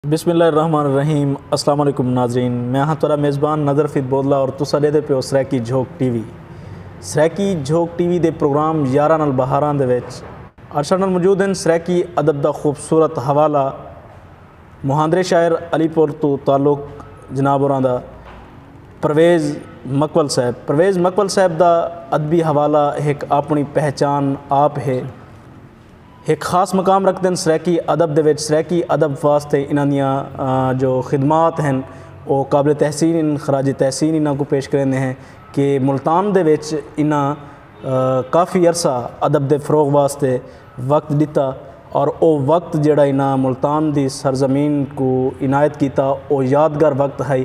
بسم اللہ الرحمن الرحیم اسلام علیکم ناظرین میں ہاں تھوڑا میزبان نظر فید بودلا اور تسا دے دے پیو Saraiki Jhok T V Saraiki Jhok T V دے پروگرام یارہ نال بہاراں دے وچ ارشا نال موجود ہیں سریکی ادب دا خوبصورت حوالہ مہاندرے شاعر علی پور تو تعلق جناب اوراں دا پرویز مکول صاحب پرویز مکول صاحب دا ادبی حوالہ ایک اپنی پہچان آپ ہے ہک خاص مقام رکھدن سرائیکی ادب دے وچ سرائیکی ادب واسطے انہاں دیاں جو خدمات ہن او قابل تحسین ہن خراج تحسین انہاں کوں پیش کریندے ہیں کہ ملتان دے وچ انہاں کافی عرصہ ادب دے فروغ واسطے وقت ݙتا اور او وقت جیڑھا انہاں ملتان دی سرزمین کوں عنایت کیتا او یادگار وقت ہئی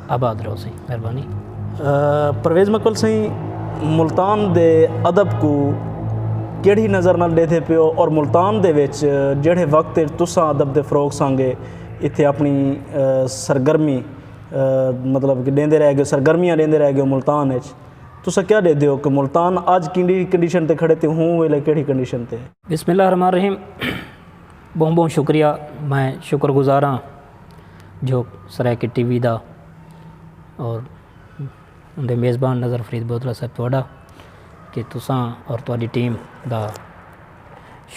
آباد رہو سئیں مہربانی۔ پرویز مکل سئیں ملتان دے ادب کو کیڑھی نظر نال ڈیدھے پیو اور ملتان دے وچ جیڑھے وقت اچ تساں ادب دے فروغ سانگے اتھے اپنی سرگرمی مطلب کہ ڈیندے رہ گیو سرگرمیاں ڈیندے رہ گیو ملتان اچ تساں کیا ڈیدھے ہو کہ ملتان اج کیڑھی کنڈیشن تے کھڑے تے ہوں ویلے کیڑھی کنڈیشن تے۔ بسم اللہ الرحمن الرحیم بہوں بہوں شکریہ میں شکر گزاراں۔ جو سرائیکی ٹی وی دا اور اندے میزبان نظر فرید بودلہ صاحب تہاڈا کہ تساں اور تہاڈی ٹیم دا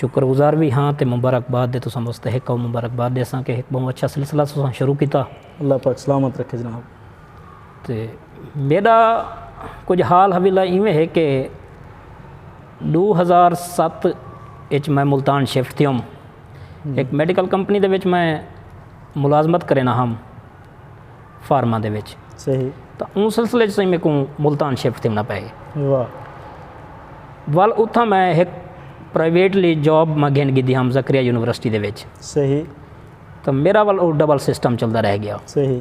شکر گزار وی ہاں تے مبارکباد دے تساں مستحق ہو مبارکباد دے ساں کہ ایک بہت اچھا سلسلہ تساں شروع کیتا اللہ پاک سلامت رکھے جناب تے میڈا کچھ حال حویلہ ایویں ہے کہ دو ہزار ست اچ میں ملتان شفٹ تھیوم ہک میڈیکل کمپنی دے وچ میں ملازمت کرینا ہم فارما دے وچ صحیح تو اون سلسلے چ میں کو ملتان شفٹ تھیونا پے واہ ول اتھا میں ہک پرائیویٹلی جاب میں گھن گدی ہم زکریا یونیورسٹی دے وچ صحیح تو میرا ول او ڈبل سسٹم چلدا رہ گیا صحیح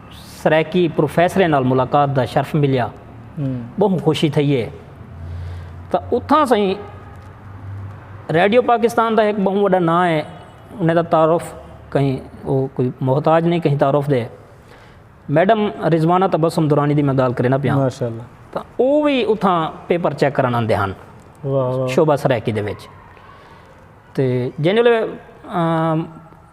سرائیکی پروفیسریں نال ملاقات دا شرف ملیا۔ بہوں خوشی تھئی ہے۔ تاں اتھاں سئیں ریڈیو پاکستان دا ہک بہوں وڈا ناں ہے۔ انہیں دا تعارف کہیں او کوئی محتاج نہیں کہیں تعارف دے۔ میڈم رضوانہ تبسم درانی دی میں گال کرنا پیا۔ ماشاءاللہ۔ تاں او وی اتھاں پیپر چیک کرن آندے ہن۔ شعبہ سرائیکی دے وچ۔ تے جنہوں نے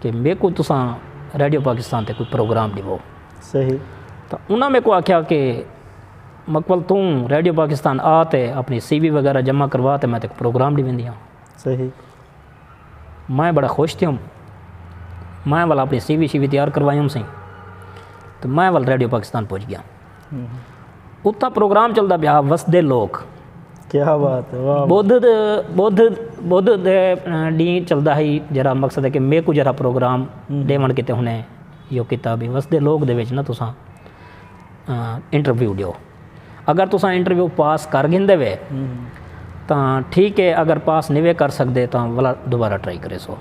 کہ میکوں تساں ریڈیو پاکستان تے کوئی پروگرام ݙیو۔ صحیح۔ تو انہاں میکوں آکھیا کہ مقبل توں ریڈیو پاکستان آ تے اپݨی سی وی وغیرہ جمع کروا تے میں تیکوں پروگرام ݙی ویندیاں۔ صحیح۔ میں بڑا خوش تھیوم۔ میں ول اپݨی سی وی شی وی تیار کروائی ہوم سی۔ تو میں ول ریڈیو پاکستان پہنچ ڳیام۔ اتھا پروگرام چلدا پیا وسدے لوک کیا بات ہے بدھ بدھ بدھ دے ڈی چلدا ہی جرا مقصد ہے کہ میں کو جرا پروگرام ڈیون کیتے ہونے یو کیتا بھی وسدے لوک دے وچ نہ تساں انٹرویو ڈیو اگر تساں انٹرویو پاس کر گھن دے وے تاں ٹھیک ہے اگر پاس نہیں وے کر سکدے تاں ولا دوبارہ ٹرائی کرے سو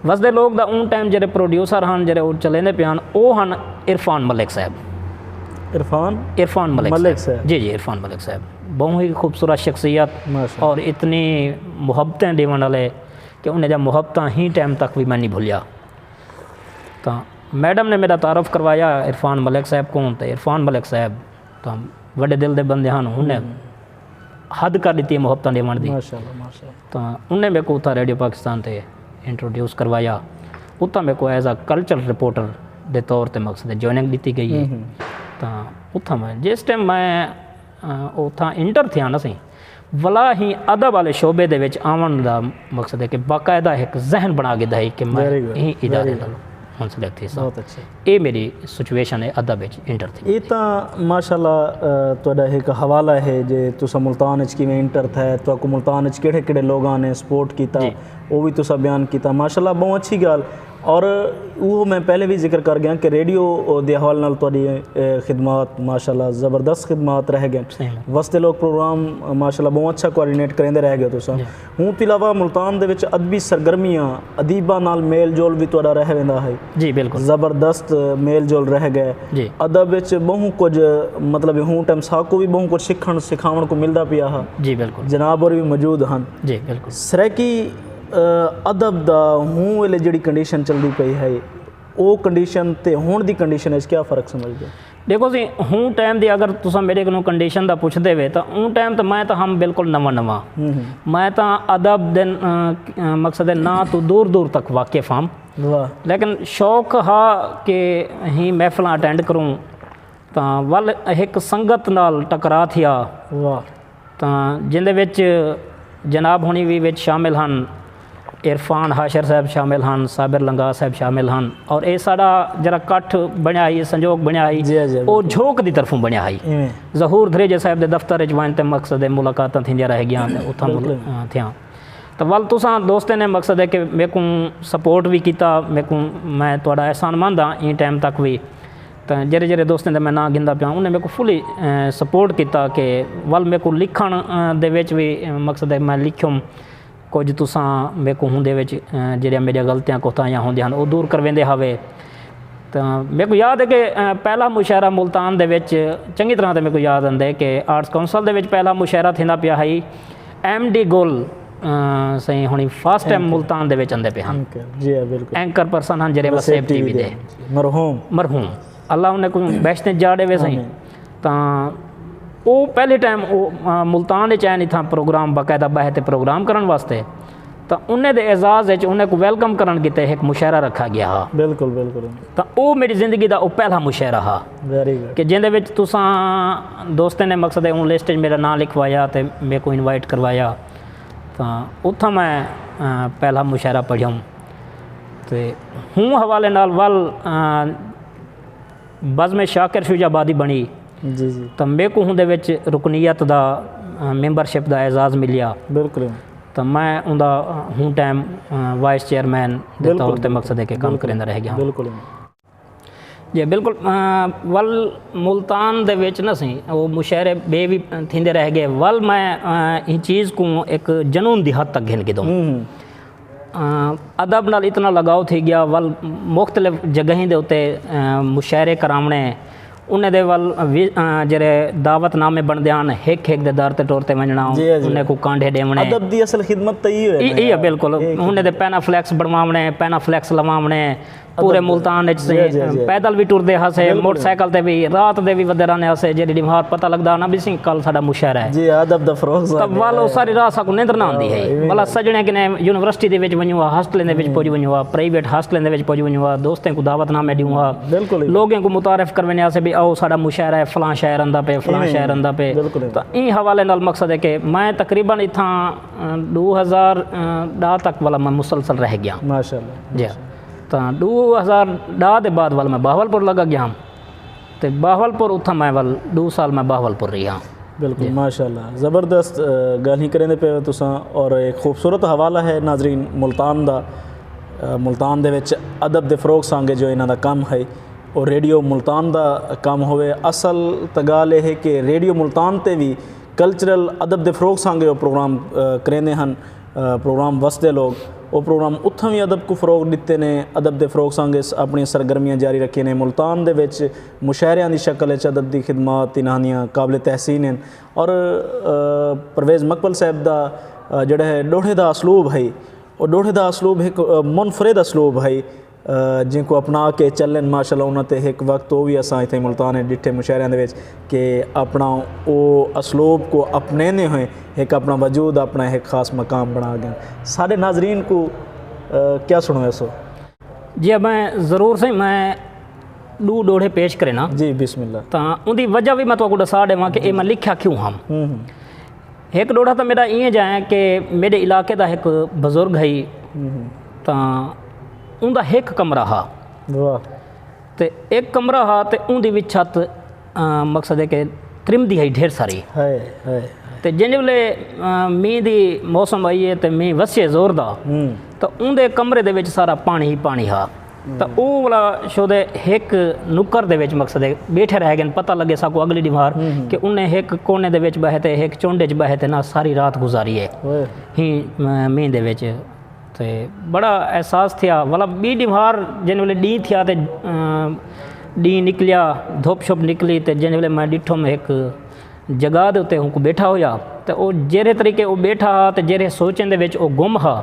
وسدے لوک دا اوں ٹائم جیرھے پروڈیوسر ہن جیرھے او چلیندے پئے ہن او ہن عرفان ملک صاحب۔ عرفان عرفان ملک ملک صاحب صاحب۔ جی جی عرفان ملک صاحب بہوں ہی خوبصورت شخصیت ماشاء اور اللہ۔ اتنی محبتیں ݙیوݨ آلے کہ انہیں جا محبتاں ہی ٹائم تک وی میں نی بھلیا۔ تاں میڈم نے میڈا تعارف کروایا عرفان ملک صاحب کوں تے عرفان ملک صاحب تاں وݙے دل دے بندے ہن انہیں۔ حد کر ݙتی ہے محبتاں ݙیوݨ دی تاں انہیں میکوں اتھاں ریڈیو پاکستان تے انٹروڈیوس کروایا اتھاں میکوں ایز اے کلچرل رپورٹر دے طور تے مقصد جوائننگ ݙتی ڳئی ہے تاں اتھاں میں جس ٹائم میں اتھاں انٹر تھیا نا سئیں ولا ہی ادب والے شعبے دے وچ آوݨ دا مقصد ہے کہ باقاعدہ ہک ذہن بݨا ڳدا ہے کہ میں ایں ادارے نال منسلک تھیساں اے میڈی سچویشن ہے ادب اچ انٹر تھینی اے تاں ماشاءاللہ تہاڈا ہک حوالہ ہے جے تساں ملتان اچ کیویں انٹر تھئے تہاکوں ملتان اچ کیڑھے کیڑھے لوگاں نے سپورٹ کیتا او وی تساں بیان کیتا ماشاءاللہ بہوں اچھی گال اور اوہو میں پہلے وی ذکر کر گیاں کہ ریڈیو دے حوالے نال تہاڈی خدمات ماشاءاللہ زبردست خدمات رہ گئن وسدے لوک پروگرام ماشاءاللہ بہوں اچھا کوآرڈینیٹ کریندے رہ گئے تساں اوں توں علاوہ ملتان دے وچ ادبی سرگرمیاں، ادیباں نال میل جول وی تہاݙا رہ ویندا ہئی۔ جی بالکل۔ زبردست میل جول رہ ڳئے۔ جی۔ ادب وچ ٻہوں کجھ مطلب ہوں ٹائم ساکوں وی ٻہوں کجھ سکھݨ سکھاوݨ کوں ملدا پیا ہا۔ جی بالکل۔ جناب ہور وی موجود ہن۔ جی بالکل۔ سرائیکی ادب دا ہوں ویلے جیڑھی کنڈیشن چلدی پئی ہئی او کنڈیشن تے ہݨ دی کنڈیشن وچ کیا فرق سمجھدے او؟ ڈیکھو سی ہوں ٹائم دی اگر تساں میرے کنوں کنڈیشن دا پوچھ دے وے تاں اوں ٹائم تاں میں تاں ہم بالکل نواں نواں میں تاں ادب دے مقصد ناں تو دور دور تک واقف ہم لیکن شوق ہا کہ ہی محفلاں اٹینڈ کروں تاں ول ہک سنگت نال ٹکرا تھیا تاں جیندے وچ جناب ہنی وی وچ شامل ہن، عرفان حاشر صاحب شامل ہن، صابر لنگاہ صاحب شامل ہن اور اے ساڈا جیرھا کٹھ بنڑیا ہئی سنجوگ بنڑیا ہئی او جھوک دی طرفوں بنڑیا ہئی۔ ظہور دھریجہ صاحب دے دفتر وچ ونج تے مقصد ملاقاتاں تھیندیاں رہ گیاں تے اتھاں تھیاں تاں ول تساں دوستیں نے مقصد اے کہ میکوں سپورٹ وی کیتا میکوں میں تہاڈا احسان مند ہاں ایں ٹائم تک وی۔ تاں جیڑھے جیڑھے دوستیں دے میں ناں گھندا پیاں انہیں میکوں فلی سپورٹ کیتا کہ ول میکوں لکھن دے وچ وی مقصد ہے میں لکھیوم کچھ تساں میکوں ہوندے وچ جیڑھیاں میڈیاں غلطیاں کوتاہیاں ہوندیاں ہن او دور کرویندے ہاوے تاں میکوں یاد ہے کہ پہلا مشاعرہ ملتان دے وچ چنگی طرح تے میکوں یاد آندے کہ آرٹس کونسل دے وچ پہلا مشاعرہ تھیندا پیا ہئی ایم ڈی گل سائیں ہونی فاسٹ ٹائم ملتان دے وچ اندے پہ ہن جی ہاں، بالکل اینکر پرسن ہن جڑے وسیب ٹی وی دے مرحوم مرحوم اللہ انہیں کو بیشتے جاڑے وے سائیں تاں او پہلے ٹائم ملتان دے چین تھا پروگرام باقاعدہ بہتے پروگرام کرن واسطے تاں انھیں دے اعزاز اچ انھیں کوں ویلکم کرݨ کیتے ہک مشاعرہ رکھا ڳیا ہا۔ بالکل بالکل۔ تاں اوہ میݙی زندگی دا اوہ پہلا مشاعرہ ہا۔ ویری گڈ۔ کہ جیندے وچ تساں دوستیں نے مقصد ہے اوں لسٹ اچ میݙا ناں لکھوایا تے میکوں انوائٹ کروایا۔ تاں اتھاں میں پہلا مشاعرہ پڑھیوم۔ تے ہوں حوالے نال ول۔ بزم شاکر شجاع آبادی بݨی تاں میکوں اوندے وچ رکنیت دا ممبر شپ دا اعزاز ملیا تاں میں اوندا ہوں ٹائم وائس چیئرمین دے طور تے مقصد ہے کہ کم کریندا رہ گیاں۔ جی بالکل ول ملتان دے وچ نہ سئیں او مشاعرے ٻئے وی تھیندے رہ ڳئے ول میں ایں چیز کوں ہک جنون دی حد تک گھن گھدوں۔ ادب نال اتنا لگاؤ تھی گیا ول مختلف جگہیں دے اتے مشاعرے کراوݨے انہیں دے ول جیرھے دعوت نامے بݨدے ہن ہک ہک دے در تے ٹر تے ونڄݨا انہیں کوں کانڈھے ݙیوݨے ادب دی اصل خدمت تے ایہو ہے نا ایہو ہے بالکل انہیں دے پینافلیکس بݨواوݨے پینافلیکس لواوݨے پورے ملتان اچ سئیں پیدل وی ٹردے ہاسے موٹر سائیکل تے وی رات دے وی ودے رہندے ہاسے جیڑھی ڈی مہار پتہ لگدا ہا نا بھی سئیں کل ساڈا مشاعرہ ہے جی ادب دا فروغ سا تب وال او ساری رات ساکوں نیندر نہ آندی ہئی بلا سجنے کنے یونیورسٹی دے وچ ونجوں ہا ہاسٹلیں دے وچ پج ونجوں ہا پرائیویٹ ہاسٹلیں دے وچ پج ونجوں ہا دوستیں کوں دعوت نامے ڈیوں ہا لوگیں کوں متعارف کرویندے ہاسے بھی آؤ ساڈا مشاعرہ ہے فلاں شاعر آندا پے فلاں شاعر آندا پے تاں ایں حوالے نال مقصد ہے کہ میں تقریبا اتھاں ڈو ہزار ڈاہ تک والا میں مسلسل رہ گیاں ماشاءاللہ جی ہاں تاں ݙو ہزار ݙاہ دے بعد ول میں بہاول پور لڳا ڳیام تے بہاول پور اتھاں میں ول ݙو سال میں بہاول پور ریہاں بالکل ماشاء اللہ زبردست گالھیں کریندے پئے ہو تساں اور ایک خوبصورت حوالہ ہے ناظرین ملتان دا ملتان دے وچ ادب دے فروغ سانگے جو انہاں دا کم ہے اور ریڈیو ملتان دا کم ہوئے اصل تگال یہ ہے کہ ریڈیو ملتان تے بھی کلچرل ادب دے فروغ سانگے وہ پروگرام کریندے ہن پروگرام وس دے لوگ او پروگرام اتھاں وی ادب کوں فروغ ڈتے نے ادب دے فروغ سانگس اپنڑیاں سرگرمیاں جاری رکھیے نے ملتان دے وچ مشاعریاں دی شکل اچ ادب دی خدمات انہاں دیاں قابل تحسین ہن اور پرویز مقبل صاحب دا جیڑھا ڈوہڑے دا اسلوب ہئی او ڈوہڑے دا اسلوب ہک منفرد اسلوب ہئی جینکوں اپنا کے چلن ماشاءاللہ انہاں تے ہک وقت او وی اساں اتھے ملتان اچ ڈٹھے مشاعریاں دے وچ کے اپنا او اسلوب کو اپنیندے ہوئے ہک اپنا وجود اپنا ہک خاص مقام بنا گئن ساڈے ناظرین کو کیا سنویسو۔ جی اب میں ضرور سائیں میں ڈو ڈوہڑے پیش کرینا جی بسم اللہ تاں اندی وجہ وی میں تہاکوں ڈسا ڈیواں کہ اے میں لکھیا کیوں ہم۔ ہک ݙوہڑا تاں میݙا ایں جاں ہے کہ میݙے علاقے دا ہک بزرگ ہئی تاں اوندا ہک کمرہ ہا تے ہک کمرہ ہا تے اوندی وچ چھت مقصد ہے کہ ترم دی ہئی ڈھیر ساری تے جیندے ویلے مینہ دی موسم آئی ہے تے مینہ وسیے زور دا تے اوندے کمرے دے وچ سارا پاݨی ہی پاݨی ہا تاں او ولا شودے ہک نکر دے وچ مقصد ہے بیٹھے رہ گن پتہ لگے ساکوں اگلی ڈیمار کہ انہیں ہک کونے دے وچ بہے تے ہک چنڈ وچ بہے تے نہ ساری رات گزاری ہے ہی مین دے وچ تے بڑا احساس تھیا ولا بی ڈیمار جن ویلے ڈی تھیا تے ڈی نکلیا دھوپ شپ نکلی تے جن ویلے میں ڈٹھو میں ہک جگہ دے اتے اونکوں ٻیٹھا ہویا تاں او جیرھے طریقے او ٻیٹھا ہا تاں جیرھے سوچیں دے وچ او گم ہا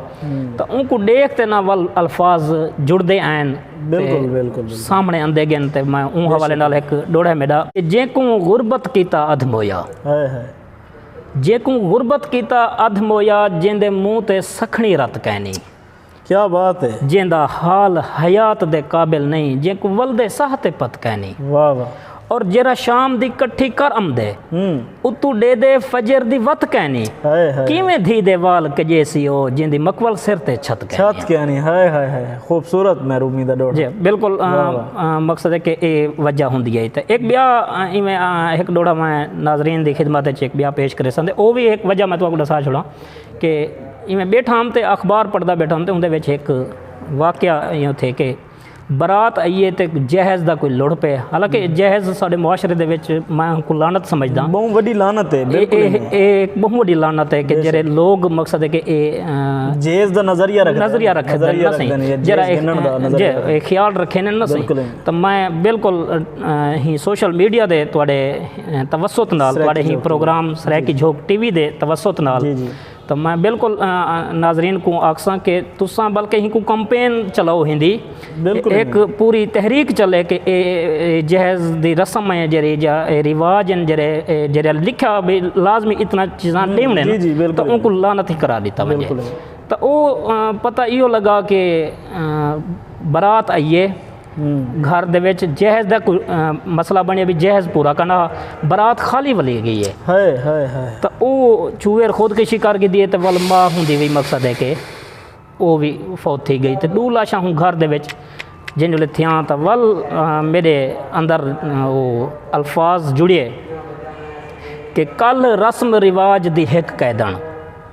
تاں اونکوں ݙیکھ تے نہ ول الفاظ جڑدے آئن تے سامھنے اندے گن تے میں اوں حوالے نال ہک ݙوڑھے میݙا جیکوں غربت کیتا ادھ مویا جیکوں غربت کیتا ادھ مویا جیندے منہ تے سکھڑی رت کینی۔ کیا بات ہے۔ جیندا حال حیات دے قابل نئیں جینکوں ولدے ساہ تے پت کینی۔ واہ واہ۔ اور جیرھا شام دی کٹھی کر امدے۔ اتوں ڈیدے فجر دی وت کینی۔ ہائے ہائے۔ کیویں دھی دے وال کجیسی او جیندی مکول سر تے چھت کینی۔ چھت کینی ہائے ہائے ہائے خوبصورت محرومی دا ڈوہڑا۔ جی بالکل مقصد ہے کہ اے وجہ ہوندی ہے تے ہک بیا ایویں ہک ڈوہڑا میں ناظرین دی خدمت وچ ہک بیا پیش کریساں تے او وی ہک وجہ میں تہاکوں ڈسا چھوڑاں۔ کہ ایویں بیٹھا ہم تے اخبار پڑھدا بیٹھا ہم تے اوندے وچ ہک واقعہ ایہو تھے کہ برات آئی ہے تے جہیز دا کوئی لڑ پے حالانکہ جہیز ساڈے معاشرے دے وچ میں کو لعنت سمجھداں بہوں وڈی لعنت ہے بالکل اے اے بہوں وڈی لعنت ہے کہ جڑے لوگ مقصد ہے کہ اے جہیز دا نظریہ رکھ نظریہ رکھ نظریہ رکھ دے جڑا اے خیال رکھے نے نا بالکل تے میں بالکل ہی سوشل میڈیا دے تواڈے توسط نال تواڈے ہی programme Saraiki Jhok T V دے توسط نال تو میں بالکل ناظرین کوں آکھساں کہ تساں بلکہ ہی کوں کمپین چلاؤ ہندی ایک پوری تحریک چلے کہ اے جہیز دی رسم ہے جڑی جا اے رواج ہیں جڑے جڑے لکھا بھی لازمی اتنا چیزاں ڈیونے ہیں تو ان کو لانتی کرا دیتا ونجے تو او پتہ ایو لگا کہ برات آئیے گھر دے وچ جہیز دا کوئی مسئلہ بنڑیا وی جہیز پورا کرنا ہا برات خالی ولے گئی ہے ہائے ہائے ہائے تاں او چویر خود کشی کر گھدی ہے تاں ول ماں ہوندی وی مقصد ہے کہ او وی فوت تھی گئی تاں ڈو لاشاں ہوں گھر دے وچ جن جلے تھیاں تاں ول میرے اندر او الفاظ جڑیے کہ کل رسم رواج دی ہک قیدن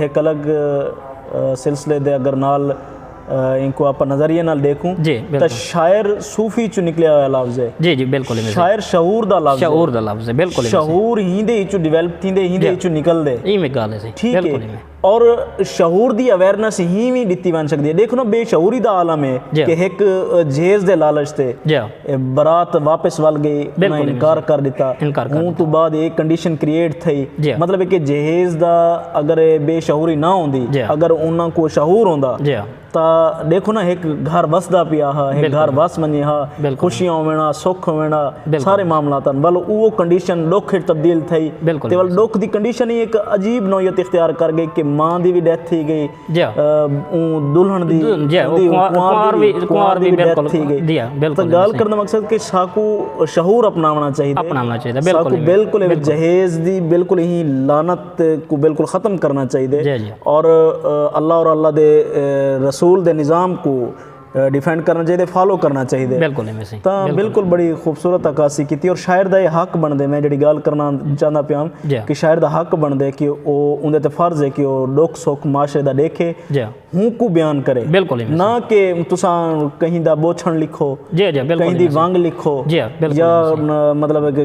ہک الگ سلسلے دے اگر نال اینکوں آپاں نظریے نال ڈیکھوں تاں شاعر صوفی چوں نکلیا ہویا لفظ ہے شاعر شعور دا لفظ ہے شعور ہی دے ہچوں ڈیویلپ تھی دے ہی دے ہچوں نکل دے ٹھیک ہے اور شعور دی اویرنس ہی وی ڈتی ونج سکدی ہے دیکھو نا بے شعوری دا عالم ہے کہ ہک جھیز دے لالچ تے برات واپس ول گئی انہاں انکار کر ڈتا ہوں توں بعد اے کنڈیشن کریئٹ تھئی مطلب اے کہ جہیز دا اگر اے بے شعوری نہ ہوندی اگر انہاں کو شعور ہوندا تاں ڈیکھو نا ہک گھر وسدا پیا ہا ہک گھر وس ونجے ہا خوشیاں ہوون ہا سکھ ہوون ہا سارے معاملات ہن ول اوہ کنڈیشن ڈکھ اچ تبدیل تھئی تے ول ڈکھ دی کنڈیشن ہی ہک عجیب نوعیت اختیار کر گئی کہ ماں دی وی ڈیتھ تھی گئی دلہن دی کنوار دی ڈیتھ تھی گئی تاں گال کرنا مقصد کہ ساکو شعور اپناونا چاہی دے ساکو بلکل ایک جہیز دی بلکل ہی لانت کو بلکل ختم کرنا چاہی دے اور اللہ اور اللہ دے رسول دے نظام کو ڈیفینڈ کرنا چاہیے فالو کرنا چاہیے بالکل تاں بالکل بڑی خوبصورت عکاسی کیتی اور شاعر دا یہ حق بن دے میں جڑی گال کرنا چاہنا پیا جی۔ کہ شاعر دا حق بن دے کہ او اون دے تے فرض ہے کہ او ڈوک سوک معاشرے دا دیکھے جی۔ ہوں کو بیان کرے بالکل نہ کہ تساں کہیں دا بوچھن لکھو جی جی کہیں دی وانگ لکھو جی یا مطلب ہے کہ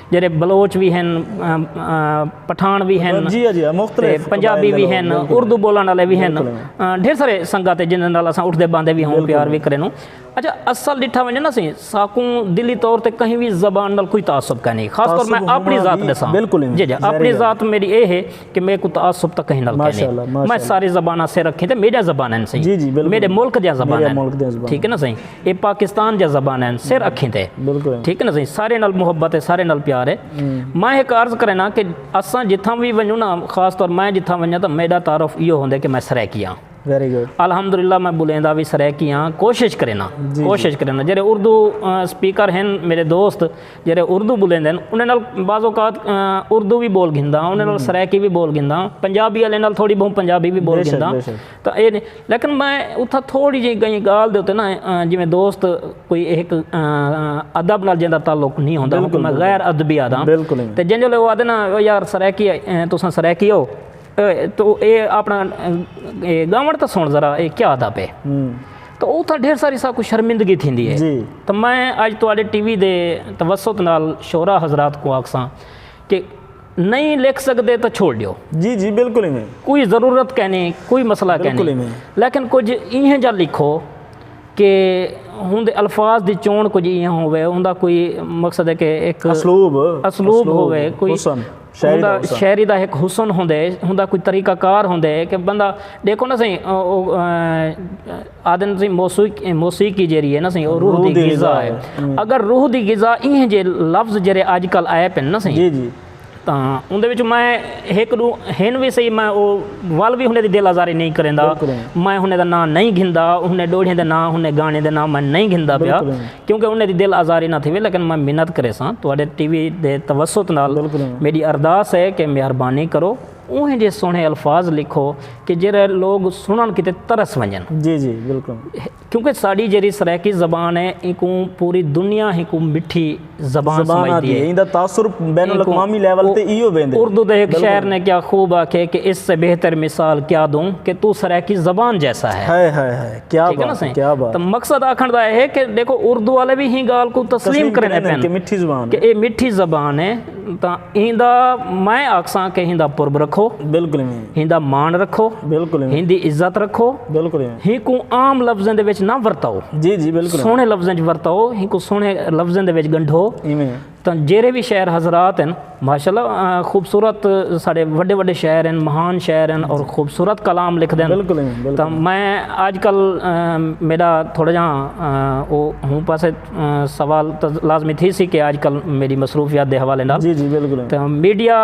جیڑھے بلوچ وی ہن پٹھان وی ہن تے پنجابی وی ہن اردو بولن آلے وی ہن ڈھیر سارے سنگت ہے جنہاں نال اساں اٹھدے باندے وی ہوں پیار وی کرینوں اچھا اصل ڈٹھا ونجے نا سائیں ساکوں دلی طور تے کہیں وی زبان نال کوئی تعصب کائنی خاص طور میں اپنی ذات ڈساں جی جی اپنی ذات میڈی اے ہے کہ میکوں تعصب تاں کہیں نال کائنی میں ساری زباناں سر رکھیں تے میڈیا زبان ہیں سائیں جی جی بالکل میرے ملک دیا زبان ہیں ملک دیا زبان ٹھیک ہے نا سائیں اے پاکستان دیا زبان ہیں سر رکھیں تے بالکل ٹھیک ہے نا سائیں سارے نال محبت ہے سارے نال پیار ہے میں ایک عرض کرے نا کہ اساں جتھاں بھی ونجو نا خاص طور میں جتھاں ونجا تو میڈا تعارف یہ ہوندے کہ میں سرائے کیا ہوں ویری گڈ الحمدللہ میں بولیں دا وی سرائیکی ہاں کوشش کرینا کوشش کرینا جڑے اردو سپیکر ہیں میرے دوست جڑے اردو بولیں دین انہاں نال بعض اوقات اردو وی بول گھندا ہاں انہاں نال سرائیکی وی بول گھندا ہاں پنجابی والے نال تھوڑی بہوں پنجابی وی بول گھندا ہاں لیکن میں اتھا تھوڑی جی کہیں گال دے اتے نا جویں دوست کوئی ایک ادب نال جیندا تعلق نہیں ہوندا میں غیر ادبی آدھا تے جنجھلے او آدھے نا یار سرائیکی تساں سرائیکی ہو تو اے اپنا گاوݨ تاں سݨ ذرا اے کیا آہدا پئے تو اوتھا ڈھیر ساری ساکوں شرمندگی تھیندی ہے تو میں اج تہاݙے ٹی وی دے توسط نال شعراء حضرات کوں آکھساں کہ نئیں لکھ سڳدے تاں چھوڑ ݙیو کوئی ضرورت کائنی کوئی مسئلہ کائنی لیکن کجھ اینہہ جا لکھو کہ اوندے الفاظ دی چوݨ کجھ اینہہ ہووے اوندا کوئی مقصد ہے کہ اسلوب ہووے کوئی شاعری دا حسن شاعری دا ہک حسن ہوندے ہوندا کوئی طریقہ کار ہوندے کہ بندہ ݙیکھو نا سائیں آہدن تسیں موسیقی موسیقی جیڑی ہے نا سائیں او روح دی غذا ہے اگر روح دی غذا ایہے جے لفظ جیڑے اج کل آئے پن نا سائیں تاں اوندے وچ میں ہک ݙو ہن وی سائیں میں او ول وی ہوندے دی دل آزاری نئیں کریندا میں ہوندے دا ناں نئیں گھندا ہوندے ݙوہیڑیں دے ناں ہوندے گانے دے ناں میں نئیں گھندا پیا کیونکہ انھیں دی دل آزاری نہ تھیوے لیکن میں منت کریساں تہاڈے ٹی وی دے توسط نال میڈی ارداس ہے کہ مہربانی کرو اوہیں جے سوہنے الفاظ لکھو کہ جیرھے لوگ سنڑن کیتے ترس ونجن کیونکہ ساڈی جیرھی سرائیکی زبان ہے اینکوں پوری دنیا ہیکوں مٹھی زبان سمجھدی ہے ایندا تاثر بین الاقوامی لیول تے ایہو ویندے۔ اردو دے ہک شاعر نے کیا خوب آکھے کہ اس سے بہتر مثال کیا دوں کہ تو سرائیکی زبان جیسا ہے۔ کیا ٹھیک ہے نا سائیں کیا بات تو مقصد آکھن دا ہے کہ دیکھو اردو والے بھی ہی گال کو تسلیم کرنے پین کہ مٹھی زبان کہ اے مٹھی زبان ہے تا ہیندا میں آکساں کہ ہیندا پرب رکھو بالکل ہیندا مان رکھو بالکل ہیندی عزت رکھو بالکل ہی کو عام لفظیں دے وچ نہ ورتاؤ جی جی بالکل سونے لفظیں وچ ورتاؤ ہی کو سونے لفظیں دے وچ گنڈھو تاں جیرھے وی شہر حضرات ہن ماشاء اللہ خوبصورت ساڈے وڈے وڈے شہر ہن مہان شہر ہن اور خوبصورت کلام لکھدے ہن بالکل ایویں بالکل تاں میں اج کل میڈا تھوڑا جا او ہوں پاسے سوال تاں لازمی تھی سی کہ اج کل میڈی مصروفیات دے حوالے نال جی جی بالکل ایویں تاں میڈیا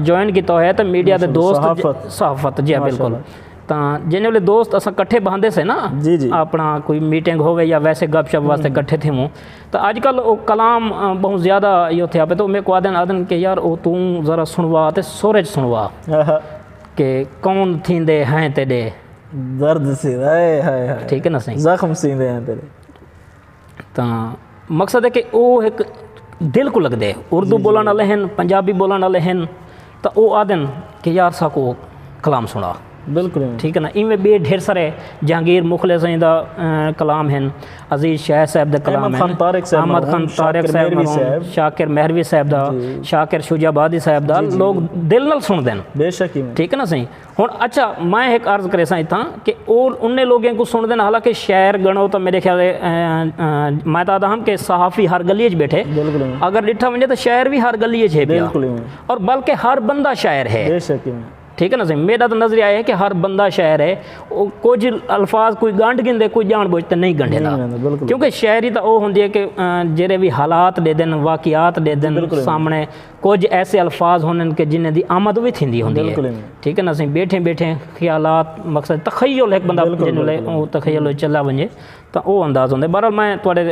جوائن کیتا ہویا ہے تاں میڈیا دے ماشاءاللہ، دوست صحافت۔ صحافت جی ہاں بالکل ماشاءاللہ۔ تاں جینے والے دوست اساں کٹھے بہندے سے نا جی جی اپنا کوئی میٹنگ ہووے یا ویسے گپ شپ واسطے کٹھے تھیوں تاں اج کل او کلام بہوں زیادہ ایہو تھیا پئے تے او میکوں آدھن آدھن کہ یار او توں ذرا سݨوا تے سر اچ سݨوا کہ کون تھیندے ہیں تیݙے درد سی ہائے ہائے ہائے ٹھیک ہے نا سائیں زخم سیندے ہیں تیݙے تاں مقصد ہے کہ او ہک دل کوں لڳدے اردو ٻولݨ آلے ہن پنجابی ٻولݨ آلے ہن تاں او آہدن کہ یار ساکوں او کلام سنڑا۔ بالکل ٹھیک ہے نا ایویں بے ڈھیر سارے جہانگیر مخلص ہیں دا کلام ہیں عزیز شیح صاحب دے کلام ہیں احمد خان طارق صاحب ہوں شاکر مہروی صاحب دا شاکر شجاع آبادی صاحب دا لوگ دل نال سن دے ہیں ٹھیک ہے نا سائیں ہݨ اچھا میں ہک عرض کریساں اتھاں کہ او انھیں لوگیں کوں سݨدن حالانکہ شعر ڳݨو تاں میݙے خیال میں تاں آہدا ہم کہ صحافی ہر ڳلی اچ ٻیٹھے اگر ݙٹھا ونڄے تاں شاعر وی ہر ڳلی اچ ہے پیا اور بلکہ ہر بندہ شاعر ہے ٹھیک ہے نا سئیں میݙا تاں نظریہ اے ہے کہ ہر بندہ شاعر ہے او کجھ الفاظ کوئی ڳنڈھ ڳھندے کوئی ڄاݨ ٻوجھ تے نئیں ڳنڈھیندا کیونکہ شاعری تاں او ہوندی ہے کہ جیڑھے وی حالات ݙیندن واقعات ݙیندن سامݨے کجھ ایسے الفاظ ہونن کہ جنہیں دی آمد وی تھیندی ہوندی ہے ٹھیک ہے نا سائیں بیٹھے بیٹھے خیالات مقصد تخیل ایک بندہ جنہوں لے او تخیل چلا ونجے تا او انداز ہوندے بہرحال میں تواڈے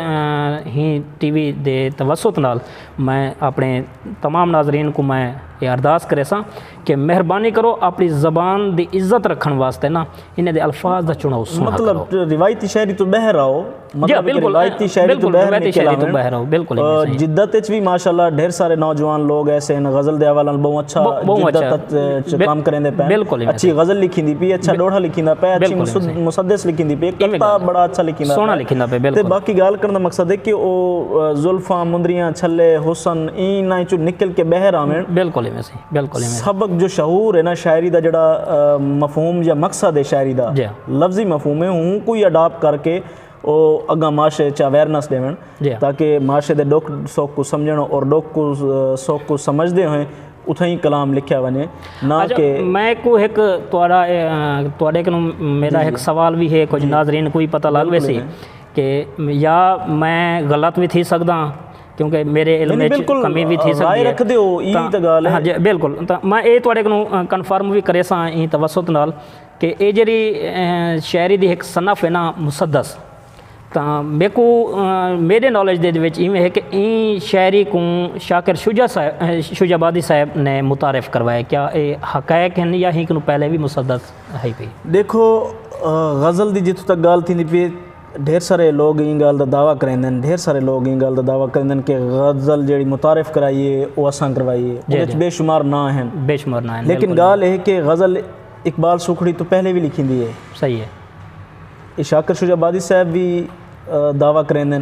ہی ٹی وی دے توسط نال میں اپنے تمام ناظرین کو میں یہ ارداس کریساں کہ مہربانی کرو اپݨی زبان دی عزت رکھݨ واسطے نا انہاں دے الفاظ دا چݨاؤ سوہݨا کرو۔ مطلب روایتی شاعری توں ٻاہر آؤ۔ جی بالکل روایتی شاعری توں ٻاہر نکل آوݨ۔ بالکل بالکل۔ جدت اچ وی ماشاءاللہ ڈھیر سارے نوجوان لوگ ایسے ہیں غزل دے حوالے نال بہوں اچھا جدت اچ کام کریندے پئے۔ بالکل۔ اچھی غزل لکھیندی پئی اچھا ڈوہا لکھیندا پئے اچھی مسدس لکھیندی پئی کتا بڑا اچھا لکھیندا پئے۔ سوہݨا لکھیندا پئے بالکل۔ تے باقی ڳالھ کرݨ دا مقصد ہے کہ او زلفاں مندریاں چھلے حسن اینہاں اچوں نکل کے ٻاہر آوݨ۔ بالکل ایویں سی۔ بالکل ایویں۔ سبق جو شعور ہے نا شاعری دا جیڑھا مفہوم یا مقصد ہے شاعری دا لفظی مفہوم ہے اوں کوں ہی اڈاپٹ کر کے او اگاں معاشرے اچ اویرنس ݙیوݨ تاکہ معاشرے دے ݙکھ سکھ کوں سمجھݨ اور ݙکھ سکھ کوں سمجھدے ہوئیں اتھائیں کلام لکھیا ونڄے نہ کہ میں کوں ہک تہاݙا تہاݙے کنوں میݙا ہک سوال وی ہے کچھ ناظرین کوں وی پتہ لڳ ویسی کہ یا میں غلط وی تھی سڳداں کیونکہ میرے علم اچ کمی وی تھی سکدی ہے بالکل تاں میں اے تواڈے کنوں کنفرم وی کریساں ایں توسط نال کہ اے جیڑھی شاعری دی ہک صنف ہے نا مسدس تاں میکو میڈے نالج دے وچ ایویں ہے کہ ایں شاعری کوں شاکر شجاع صاحب شجاع آبادی صاحب نے متعارف کروایا کیا اے حقائق ہن یا ہی کنوں پہلے وی مسدس ہئی پئی؟ ڈیکھو غزل دی جتھوں تک گالھ تھیندی پئی ہے ڈھیر سارے لوگ ایں گالھ دا دعوی کریندن ڈھیر سارے لوگ ایں گالھ دا دعوی کریندن کہ غزل جیڑھی متعارف کرائی ہے او اساں کروائی ہے ایں وچ بے شمار ناں ہن بے شمار ناں ہن لیکن گالھ ہے کہ غزل اقبال سوکھڑی توں پہلے وی لکھیندی ہے صحیح ہے شاکر شجاع آبادی صاحب وی دعوی کریندن۔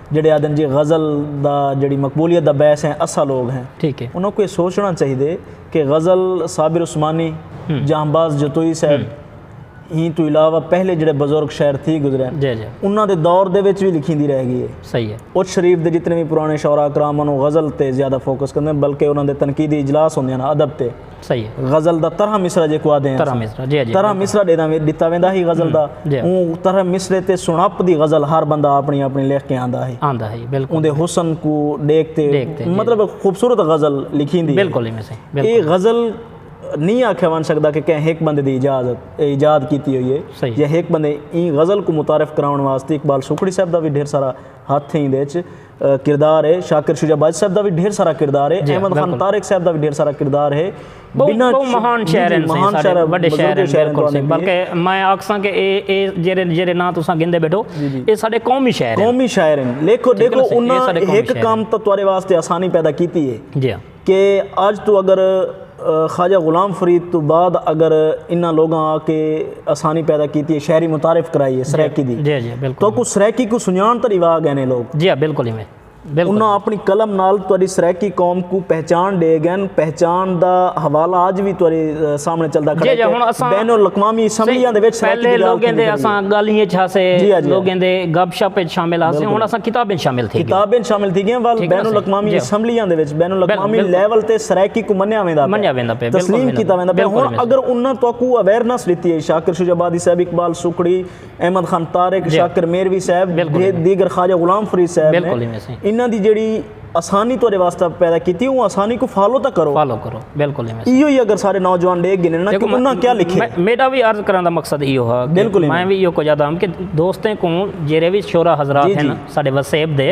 جیڑھے آہدن جی غزل دا جیڑھی مقبولیت دا باعث ہیں اساں لوگ ہیں۔ ٹھیک ہے۔ انہاں کوں ایہ سوچنا چاہیدے کہ غزل صابر عثمانی، جہاں باز جتوئی صاحب ہیں توں علاوہ پہلے جیڑھے بزرگ شاعر تھی گزرے ہیں۔ جی جی۔ انہاں دے دور دے وچ وی لکھیندی رہ گئی ہے۔ صحیح ہے۔ اچ شریف دے جتنے وی پرانے شعراء کرام انہاں غزل تے زیادہ فوکس کندے ہیں بلکہ انہاں دے تنقیدی اجلاس ہوندے ہیں ادب تے۔ صحیح ہے۔ غزل دا طرح مصرع جیکوں آدھے ہیں۔ طرح مصرع جی جی۔ طرح مصرع ڈیداں وچ ڈتا ویندا ہی غزل دا۔ جی۔ اوں طرح مصرع تے سنڑپ دی غزل ہر بندہ اپنی اپنی لکھ کے آندا ہی۔ آندا ہی بالکل۔ اوندے حسن کوں ڈیکھ تے۔ ڈیکھ تے۔ مطلب ایک خوبصورت غزل لکھیندی ہے۔ بالکل ایویں سے۔ بالکل۔ ایہ غزل نہیں آکھیا ون سکدا کہ کہیں ہک بندے دی ایجازت ایجاد کیتی ہوئی ہے۔ صحیح۔ یا ہک بندے ایں غزل کوں متعارف کراون واسطے اقبال سوکھڑی صاحب دا وی ڈھیر سارا۔ ہتھ ہیں ایندے وچ کردار ہے شاکر شجاع باجوہ صاحب دا وی ڈھیر سارا کردار ہے احمد خان طارق صاحب دا وی ڈھیر سارا کردار ہے بہت مہان شاعر ہیں مہان شاعر ہیں بڑے شاعر ہیں شاعر ہیں بلکہ میں آکھساں کہ اے جیرے جیرے نا تساں گندے بیٹھو اے سارے قومی شاعر ہیں قومی شاعر ہیں لیکھو دیکھو انہاں ایک کام تو توارے واسطے آسانی پیدا کیتی ہے جی ہاں کہ اج توں اگر خواجہ غلام فرید توں بعد اگر انہاں لوگاں آ کے آسانی پیدا کیتی ہے شہری متعارف کرائی ہے سرائیکی دی تو اکوں سرائیکی کوں سنجان تاں ڈیوا گئے نے لوگ انہاں اپنی قلم نال تہاڈی سرائیکی قوم کوں پہچان ڈے گئے نے پہچان دا حوالہ اج وی تہاڈے سامنے چلدا کھڑے کہ بین الاقوامی اسمبلیاں دے وچ سرائیکی دی گال کیتی گئی ہے۔ اسمبلیاں دے وچ بین الاقوامی لیول تے سرائیکی کوں منیا ویندا پئے تسلیم کیتا ویندا پئے ہن اگر انہاں تہاکوں اویرنس ڈتی ہے شاکر شجاع آبادی صاحب اقبال سوکھڑی احمد خان طارق شاکر میروی صاحب دیگر خواجہ غلام فرید صاحب نے انہاں دی جیڑی آسانی تہاڈے واسطے پیدا کیتی ہے اوں آسانی کوں فالو تاں کرو فالو کرو بالکل ایہو ہی اگر سارے نوجوان ڈیکھ گھنن نا کہ انہاں کیا لکھے میڈا وی عرض کرن دا مقصد ایہو ہا بالکل میں وی ایہو کچھ آدھا ہم کہ دوستیں کوں جیرے وی شعرا حضرات ہیں ساڈے وسیب دے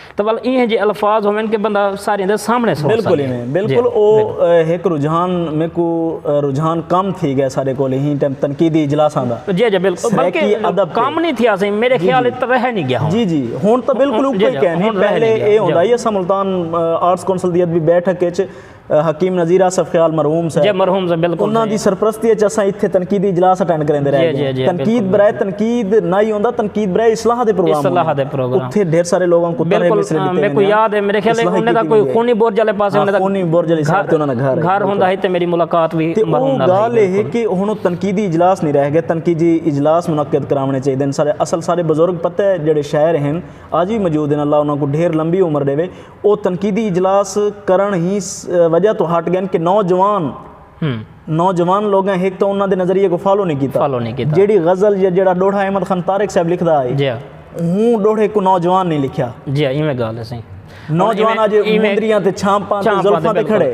تو ول ایہے جے الفاظ ہوون کہ بندہ ساریاں دے سامنے سن سکے بالکل ایویں بالکل او ہک رجحان میکو رجحان کم تھی گئے سارے کول ہی ٹائم تنقیدی اجلاساں دا جی جی بالکل بلکہ ادب کم نہیں تھیا سی میرے خیال اچ رہ نہیں گیا جی جی ہن تو بالکل اوکے کہنی پہلے اے ہوندا ہی اساں ملتان آرٹس کونسل دی ادبی بیٹھک اچ حکیم نذیر آصف خیال مرحوم صاحب جی مرحوم صاحب بالکل انہاں دی سرپرستی اچ اساں ایتھے تنقیدی اجلاس اٹینڈ کریندے رہے جی جی تنقید برائے تنقید نہ ہی ہوندا تنقید برائے اصلاح دے پروگرام اصلاح دے پروگرام اتھے ڈھیر سارے لوگوں کو ترے مصرے دیتے ہیں میں کو یاد ہے میرے خیال ہے انہاں دا کوئی خونی برج والے پاسے انہاں دا خونی برج والے ساتھ انہاں دا گھر گھر ہوندا ہے تے میری ملاقات بھی مرحوم نال گال ہے کہ ہن تنقیدی اجلاس نہیں رہ گئے تنقیدی اجلاس منعقد کراونے چاہیے دن سارے اصل سارے بزرگ پتہ جڑے شاعر ہیں آج بھی موجود ہیں اللہ انہاں کو ڈھیر لمبی عمر دے او تنقیدی اجلاس کرݨ ہی وجہ توں ہٹ ڳئن کہ نوجوان نوجوان لوگاں ہک تاں انہاں دے نظریے کوں فالو نی کیتا جیڑھی غزل یا جیڑھا ڈوہڑا احمد خان طارق صاحب لکھدا ہئی اوں ڈوہڑے کوں نوجوان نی لکھیا جی ایویں گالھ ہے سائیں نوجوان اج مندریاں تے چھانپاں تے زلفاں تے کھڑے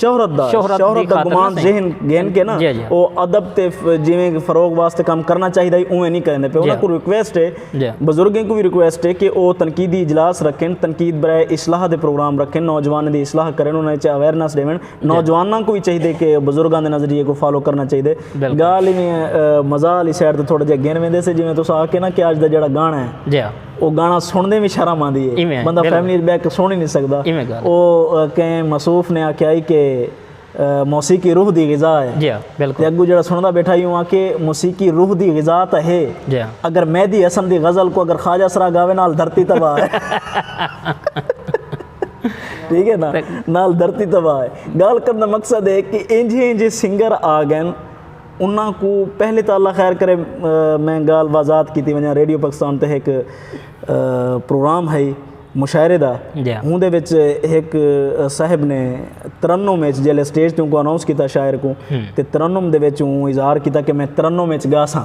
شہرت دا شہرت دا گمان ذہن گھن کے نا او ادب تے جیویں کہ فروغ واسطے کم کرنا چاہیدا ہی اوویں نہیں کریندے پے انہاں کوں ریکویسٹ ہے بزرگیں کوں وی ریکویسٹ ہے کہ او تنقیدی اجلاس رکھن تنقید برائے اصلاح دے پروگرام رکھن نوجواناں دی اصلاح کرن انہاں وچ اویرنس ڈیون نوجواناں کوں وی چاہیدے کہ بزرگاں دے نظریے کوں فالو کرنا چاہیدے گال ایویں مزاح آلی سائیڈ تے تھوڑا جیہا گھن ویندے سے جیویں تساں آکھے نا کہ اج دا جیہڑا گانا ہے۔ او گانا سنڑدیں وی شرم آندی اے ایویں بندہ بالکل فیملی اچ بیٹھ کے سن ہی نی سگدا ایویں گالھ اے۔ او کہیں مصوف نے آکھیا ہئی کہ موسیقی روح دی غذا اے جی ہاں تے بالکل اگوں جیڑھا سنڑدا بیٹھا ہئی اوں آکھے موسیقی روح دی غذا تاں ہے جی ہاں اگر مہدی حسن دی غزل کوں اگر خواجہ سرا گاوے نال دھرتی تباہ اے ٹھیک اے نا تے نال دھرتی تباہ اے گالھ کرݨ دا مقصد اے کہ اینجھے اینجھے سنگر آ ڳئن انہاں کو پہلے تو اللہ خیر کرے میں گال وازات کیتی ونجا ریڈیو پاکستان تے ہک پروگرام ہئی مشاعرے دا ہوں دے وچ ہک صاحب نے ترنم وچ جیلے سٹیج تے کو اناؤنس کیتا شاعر کو تے ترنم دے وچ اوں اظہار کیتا کہ میں ترنم وچ گاساں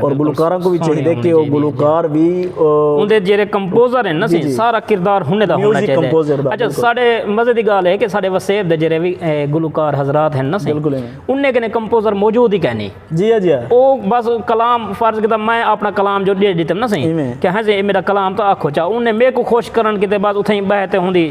اور گلوکاراں کو بھی چاہیے دے کہ وہ گلوکار بھی ان دے جیرے کمپوزر ہیں نا سی سارا کردار ہونے دا ہونا چاہیے دے اچھا سارے مزے دی گال ہے کہ سارے وسیب دے جیرے بھی گلوکار حضرات ہیں نا سی ان نے کنے کمپوزر موجود ہی کہنی جی جی وہ بس کلام فرض کیتا میں اپنا کلام جو دے دیتے ہیں نا سی کہ ہاں جی میرا کلام تو آکھو چاہو ان نے میرے کو خوش کرن کیتے بعد اتھے ہی بہتے ہوں دی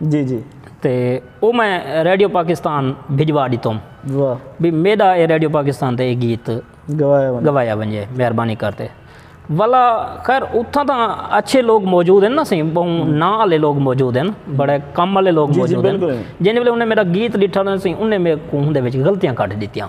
جی جی تے او میں ریڈیو پاکستان بھجوا ڈتم بھی میڈا اے ریڈیو پاکستان تے اے گیت گوایا ونجے مہربانی کر تے ولا خیر اتھاں تاں اچھے لوگ موجود ہیں نا سیں بہوں نا آلے لوگ موجود ہیں بڑے کم آلے لوگ موجود ہیں جنہیں انہیں میرا گیت ڈٹھا نا سیں انہیں میرے کوہن دے وچ غلطیاں کٹ ڈتیاں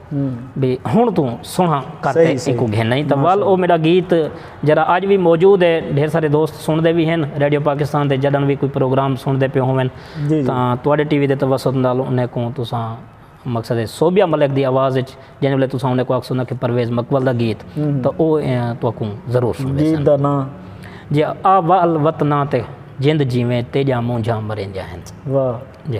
بی ہن توں سنہاں کر تے ایکوں گھن آئیں تاں وال او میڈا گیت جیڑا آج وی موجود ہے ڈھیر سارے دوست سن دے وی ہن ریڈیو پاکستان تے جڈن وی کوئی پروگرام سن دے پیوں ہوون تاں تواڈے ٹی وی دے توسط نال انہیں کوں تساں مقصد ہے صوبیہ ملک دی آواز اچ جیں ولے تساں انہیں کوں آکھسوں نا کہ پرویز مقبل دا گیت تاں او تواکوں ضرور سن دے سن جی آ وال وطناں تے جند جیویں تیجا مونجھاں مریندیاں ہن جی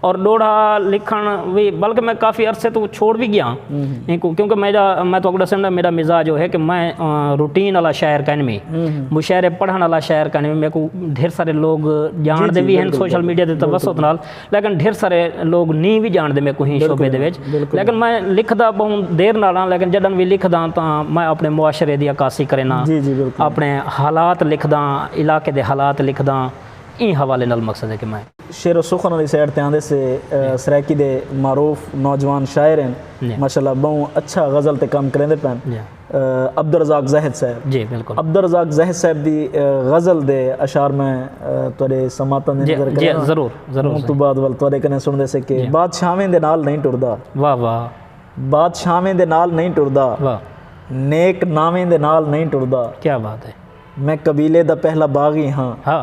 اور ڈوڑھا لکھن وی بلکہ میں کافی عرصے توں چھوڑ وی گیاں اینکوں کیونکہ میں جا میں تہاکوں ڈسن ڈا میڈا مزاج او ہے کہ میں روٹین والا شاعر کائن وی مشاعرے پڑھن والا شاعر کائن وی میکوں ڈھیر سارے لوگ جانڑ دے وی ہن سوشل میڈیا دے توسط نال لیکن ڈھیر سارے لوگ نی وی جانڑ دے میکوں ہی شعبے دے وچ لیکن میں لکھدا بہوں دیر نال ہاں لیکن جڈن وی لکھداں تاں میں اپنے معاشرے دی عکاسی کرینا اپنے حالات لکھداں علاقے دے حالات لکھداں ایں حوالے نال مقصد ہے کہ میں شعر و سخن آلی سائیڈ تے آندے سے سرائیکی دے معروف نوجوان شاعر ہن ماشاء اللہ بہوں اچھا غزل تے کم کریندے پن عبدالرزاق زاہد صاحب عبدالرزاق زاہد صاحب دی غزل دے اشعار میں تہاڈے سماعتاں دے نظر کرے ضرور ضرور ہوں تو بعد ول تہاڈے کنے سندے سے کہ بادشاہویں دے نال نہیں ٹردا واہ واہ بادشاہویں دے نال نہیں ٹردا نیک ناویں دے نال نہیں ٹردا کیا بات ہے میں قبیلے دا پہلا باغی ہاں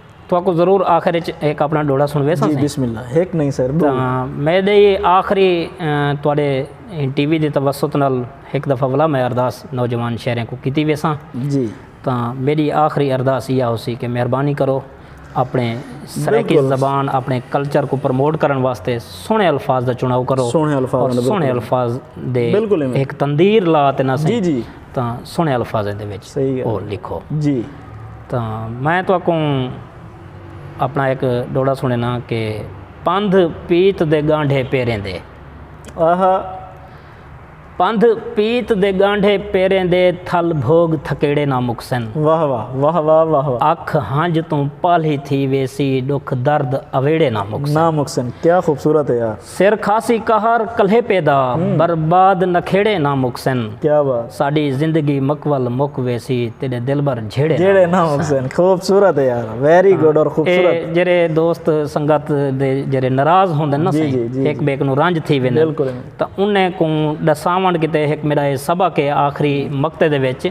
تہاکوں ضرور آخر اچ ہک اپنا ڈوہڑا سنڑویساں سئیں۔ جی بسم اللہ ہک نہیں سر ڈو۔ میں دے ایہ آخری تہاڈے ٹی وی دے توسط نال ہک دفعہ ولا میں ارداس نوجوان شہریاں کوں کیتی ویساں۔ جی۔ تاں میڈی آخری ارداس ایہا ہوسی کہ مہربانی کرو اپنے سرائیکی زبان اپنے کلچر کوں پروموٹ کرن واسطے سوہنے الفاظ دا چناؤ کرو۔ سوہنے الفاظ۔ سوہنے الفاظ دے ہک تندیر لا تے نہ سئیں۔ جی جی۔ تاں سوہنے الفاظیں دے وچ او لکھو۔ جی۔ تاں میں تہاکوں اپنا ہک ڈوہڑا سنڑینا کہ پندھ پیت دے گانڈھے پیریں دے۔ آہا۔ پندھ پیت دے گانڈھے پیریں دے تھل بھوگ تھکیڑے نہ مکسن۔ واہ واہ واہ واہ واہ واہ۔ اکھ ہنج توں پالھی تھی ویسی ڈکھ درد اویڑے نہ مکسن۔ نہ مکسن کیا خوبصورت ہے یار۔ سر کھاسی قہر کلیپے دا برباد نکھیڑے نہ مکسن ساڈی زندگی مکول مک ویسی تیڈے دلبر جھیڑے نہ مکسن خوبصورت ہے یار ویری گڈ اور خوبصورت اے جیرے دوست سنگت دے جیرے ناراض ہوندے نا سائیں ہک بے کنو رنج تھی ویندے تاں انہیں کوں ڈساون کیتے ہک میرا اے سبق اے آخری مقطع دے وچ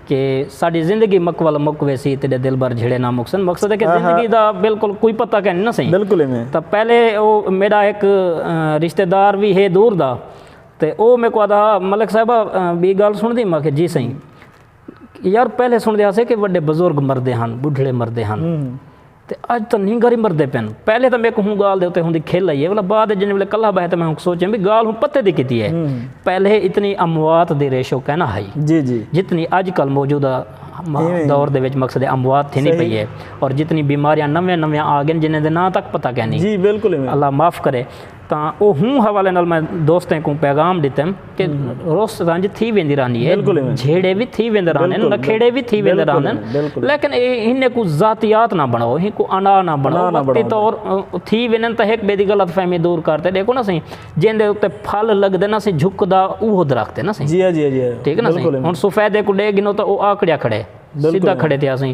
کہ ساڈی زندگی مک ول مک ویسی تیڈے دلبر جھیڑے نہ مکسن مقصد ہے کہ زندگی دا بالکل کوئی پتہ کہنی نہ سہی بالکل ایویں تاں پہلے او میڈا ہک رشتہ دار وی ہے دور دا تے او میکوں آدا ہا ملک صاحبہ بی گال سن دی ماکھے جی سہی یار پہلے سن دے ہاسے کہ وڈے بزرگ مردے ہن بڈھڑے مردے ہن تے اج تاں نینگر ای مردے پن۔ پہلے تاں میکوں ہوں گالھ دے اتے ہوندی کھل آئی اے ولا بعد اچ جنھیں ویلے کلھا بہے تاں میں ہونک سوچیاں وی گالھ ہوں پتے دی کیتی اے۔ پہلے اتنی اموات دی ریشو کائنا ہئی۔ جتنی اج کل موجودہ دور دے وچ مقصد اموات تھیندی پئی اے۔ اور جتنی بیماریاں نویاں نویاں آ گئین جنھیں دے ناں تک پتہ کائنی۔ اللہ معاف کرے۔ تاں اوہوں حوالے نال میں دوستیں کوں پیغام ڈتیم کہ رس رنج تھی ویندی رہندی ہے جھیڑے وی تھی ویندے رہندے ہیں نکھیڑے وی تھی ویندے رہندے ہیں لیکن انہیں کو ذاتیات نہ بناؤ انہیں کو انا نہ بناؤ وقتی طور تھی ویندے تاں ایک بے دی غلط فہمی دور کرتے دیکھو نا سہی جن دے اتے پھل لگ دے نا سہی جھک دا اوہ درخت ہے نا سہی ٹھیک ہے نا سہی ہن سفیدے کو ڈے گنو تاں اوہ آکڑیا کھڑے سیدھا کھڑے تھیا سہی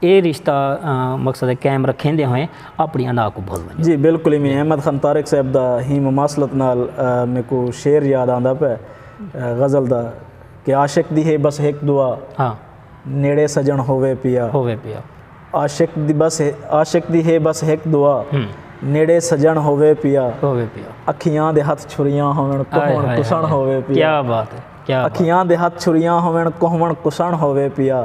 اے رشتہ مقصد قائم رکھیندے ہوئیں اپݨی انا کوں بھل ونڄو۔ جی بالکل ایویں احمد خان طارق صاحب دا ہی مماثلت نال میکوں شعر یاد آندا پئے غزل دا کہ عاشق دی ہے بس ہک دعا نیڑے سجݨ ہووے پیا عاشق دی بس عاشق دی ہے بس ہک دعا نیڑے سجݨ ہووے پیا اکھیاں دے ہتھ چھریاں ہوون کوہون کسݨ ہووے پیا اکھیاں دے ہتھ چھریاں ہوون کوہون کسݨ ہووے پیا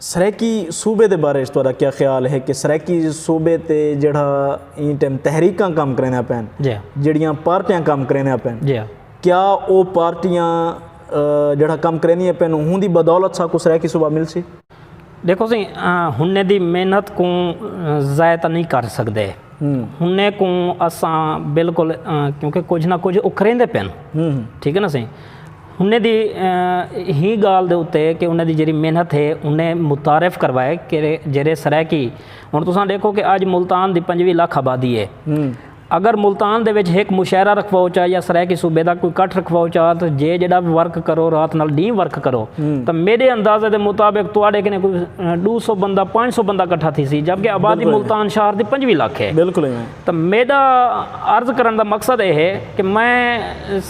سرائیکی صوبے دے بارے اچ تہاڈا کیا خیال ہے کہ سرائیکی صوبے تے جیڑھا ایں ٹائم تحریکاں کم کریندیاں پئین جیڑھیاں پارٹیاں کم کریندیاں پئین کیا او پارٹیاں جیڑھا کم کریندیاں پئین ہوندی بدولت ساکوں سرائیکی صوبہ ملسی؟ ڈیکھو سی ہنڑے دی محنت کوں ضائع تاں نہیں کر سکدے ہنڑے کوں اساں بالکل کیونکہ کچھ نہ کچھ او کریندے پئین ٹھیک ہے نا سی انہیں دی ہی گالھ دے اتے کہ انہیں دی جیڑی محنت ہے انہیں متعارف کروائے کہ جیڑے سرائیکی ہن تساں ڈیکھو کہ آج ملتان دی پنجوی لکھ آبادی ہے اگر ملتان دے وچ ہک مشاعرہ رکھواؤ چا یا سرائیکی صوبے دا کوئی کٹھ رکھواؤ چا تاں جے جیڑا ورک کرو رات نال ڈینہہ ورک کرو تاں میڈے اندازے دے مطابق تواڈے کنے کوئی ڈو سو بندہ پانچ سو بندہ کٹھا تھیسی جبکہ آبادی ملتان شہر دی پنجوی لکھ ہے۔ تاں میڈا عرض کرݨ دا مقصد اے ہے کہ میں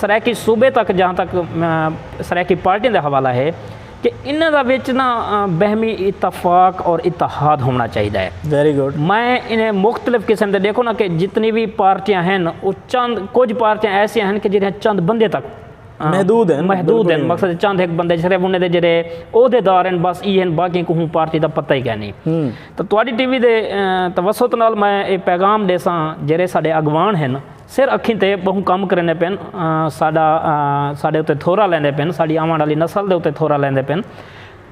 سرائیکی صوبے تک جہاں تک سرائیکی پارٹیاں دا حوالہ ہے کہ انہاں دا وچ نا بہمی اتفاق اور اتحاد ہووݨا چاہیدا ہے۔ Very good۔ میں انہیں مختلف قسم دے ݙیکھو نا کہ جتنی وی پارٹیاں ہن او چند کجھ پارٹیاں ایسیاں ہن کہ جیڑھیاں چند بندے تک محدود ہن۔ محدود ہن مقصد چند ہک بندے صرف انہیں دے جیڑھے عہدیدار ہن بس ای ہن باقی کوہوں پارٹی دا پتہ ای کینی۔ تاں تہاݙی ٹی وی دے توسط نال میں ایہ پیغام ݙیساں جیرھے ساݙے اڳواݨ ہن سر اکھیں تے ٻہوں کم کریندے پئن، ساݙا ساݙے اتے تھورا لیندے پئن، ساݙی آوݨ آلی نسل دے اتے تھورا لیندے پئن،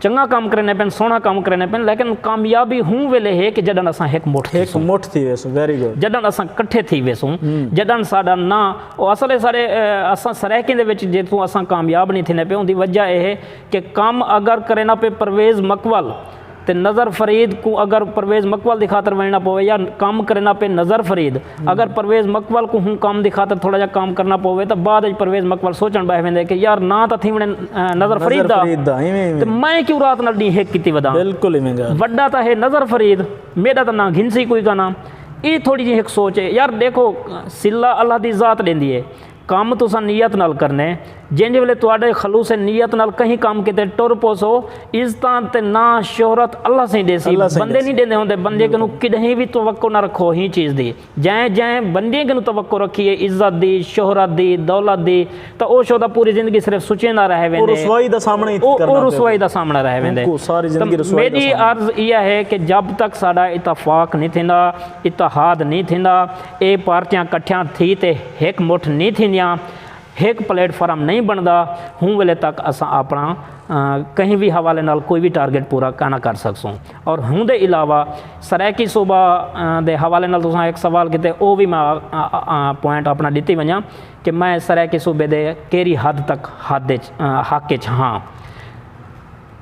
چنڳاں کم کریندے پئن، سوہݨا کم کریندے پئن لیکن کامیابی ہوں ویلے ہے کہ جݙݨ اساں ہک مٹھ تھیسوں۔ جݙݨ اساں کٹھے تھی ویسوں۔ جݙݨ ساݙا نہ او اصل ہے ساݙے اساں سرائیکیں دے وچ جیتوں اساں کامیاب نی تھیندے پئے اوندی وجہ ایہ ہے کہ کم اگر کرینا پئے پرویز مکول، تے نذر فرید کوں اگر پرویز مکول دی خاطر ونجنڑاں پووے یا کم کرینداں پئے نذر فرید اگر پرویز مکول کوں ہوں کم دی خاطر تھوڑا جیہا کم کرنڑاں پووے تاں بعد اچ پرویز مکول سوچنڑ بہہ ویندے کہ یار ناں تاں تھیونڑے نذر فرید دا تے میں کیوں رات نال ڈینہہ ہک کیتی وداں وڈا تاں ہے نذر فرید میڈا تاں ناں گھنسی کوئی کنا اے تھوڑی جیہی ہک سوچ ہے یار ڈیکھو صلہ اللہ دی ذات ڈیندی ہے۔ کم تساں نیت نال کرنے۔ جینجھ ویلے تہاڈے خلوص نیت نال کہیں کم کیتے ٹر پوسو، عزتاں تے ناں، شہرت اللہ سئیں ڈیسی۔ بندے نی ڈیندے ہوندے۔ بندے کنوں کڈہیں وی توقع نہ رکھو ہیں چیز دی۔ جئیں جئیں بندے کنوں توقع رکھی ہے عزت دی، شہرت دی، دولت دی تاں او شودا پوری زندگی صرف سچیندا رہ ویندے۔ او رسوائی دا سامنا ہی کرنا پوندے۔ او رسوائی دا سامنا رہ ویندے۔ اونکوں ساری زندگی رسوائی دا سامنا۔ میڈی عرض ایہا ہے کہ جب تک ساڈا اتفاق نی تھیندا، اتحاد نی تھیندا۔ اے پارٹیاں کٹھیاں تھی تے ہک مٹھ نی تھیندیاں، ہک پلیٹ فارم نی بنڑدا، ہوں ویلے تک اساں اپنڑا کہیں وی حوالے نال کوئی وی ٹارگٹ پورا کائناں کر سگسوں۔ اور ہوں دے علاوہ سرائیکی صوبہ دے حوالے نال تساں ہک سوال کیتے او وی میں پوائنٹ اپنڑا ڈتی ونجاں کہ میں سرائیکی صوبے دے کیری حد تک حد اچ حق اچ ہاں۔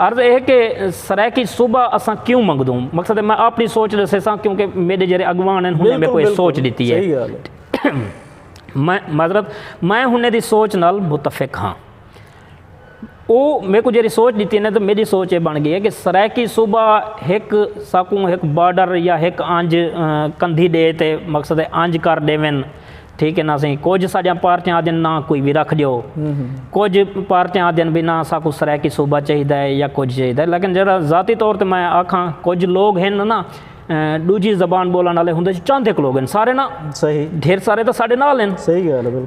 عرض اے کہ سرائیکی صوبہ اساں کیوں منگدوں؟ مقصد اے میں آپنی سوچ ڈسیساں کیونکہ میڈے جیرے اگوان ہن ہنیں میکوں اے سوچ ڈتی اے۔ معذرت میں ہنیں دی سوچ نال متفق ہاں۔ او میکوں جیرے سوچ ڈتی اے میڈی سوچ اے بن گئی اے کہ سرائیکی صوبہ ہک ساکوں ہک بارڈر یا ہک آنج کندھی ڈے تے مقصد اے آنج کر ڈیون ٹھیک ہے نا سئیں کجھ ساڈیاں پارٹیاں آدھن نہ کوئی وی رکھ ڈیو کجھ پارٹیاں آدھن بھئی نہ ساکوں سرائیکی صوبہ چاہیدا ہے یا کجھ چاہیدا ہے لیکن جیڑھا ذاتی طور تے میں آکھاں کجھ لوگ ہن نا ڈوجھی زبان بولن آلے ہوندے جو چند ہک لوگ ہن سارے نا ڈھیر سارے تاں ساڈے نال ہن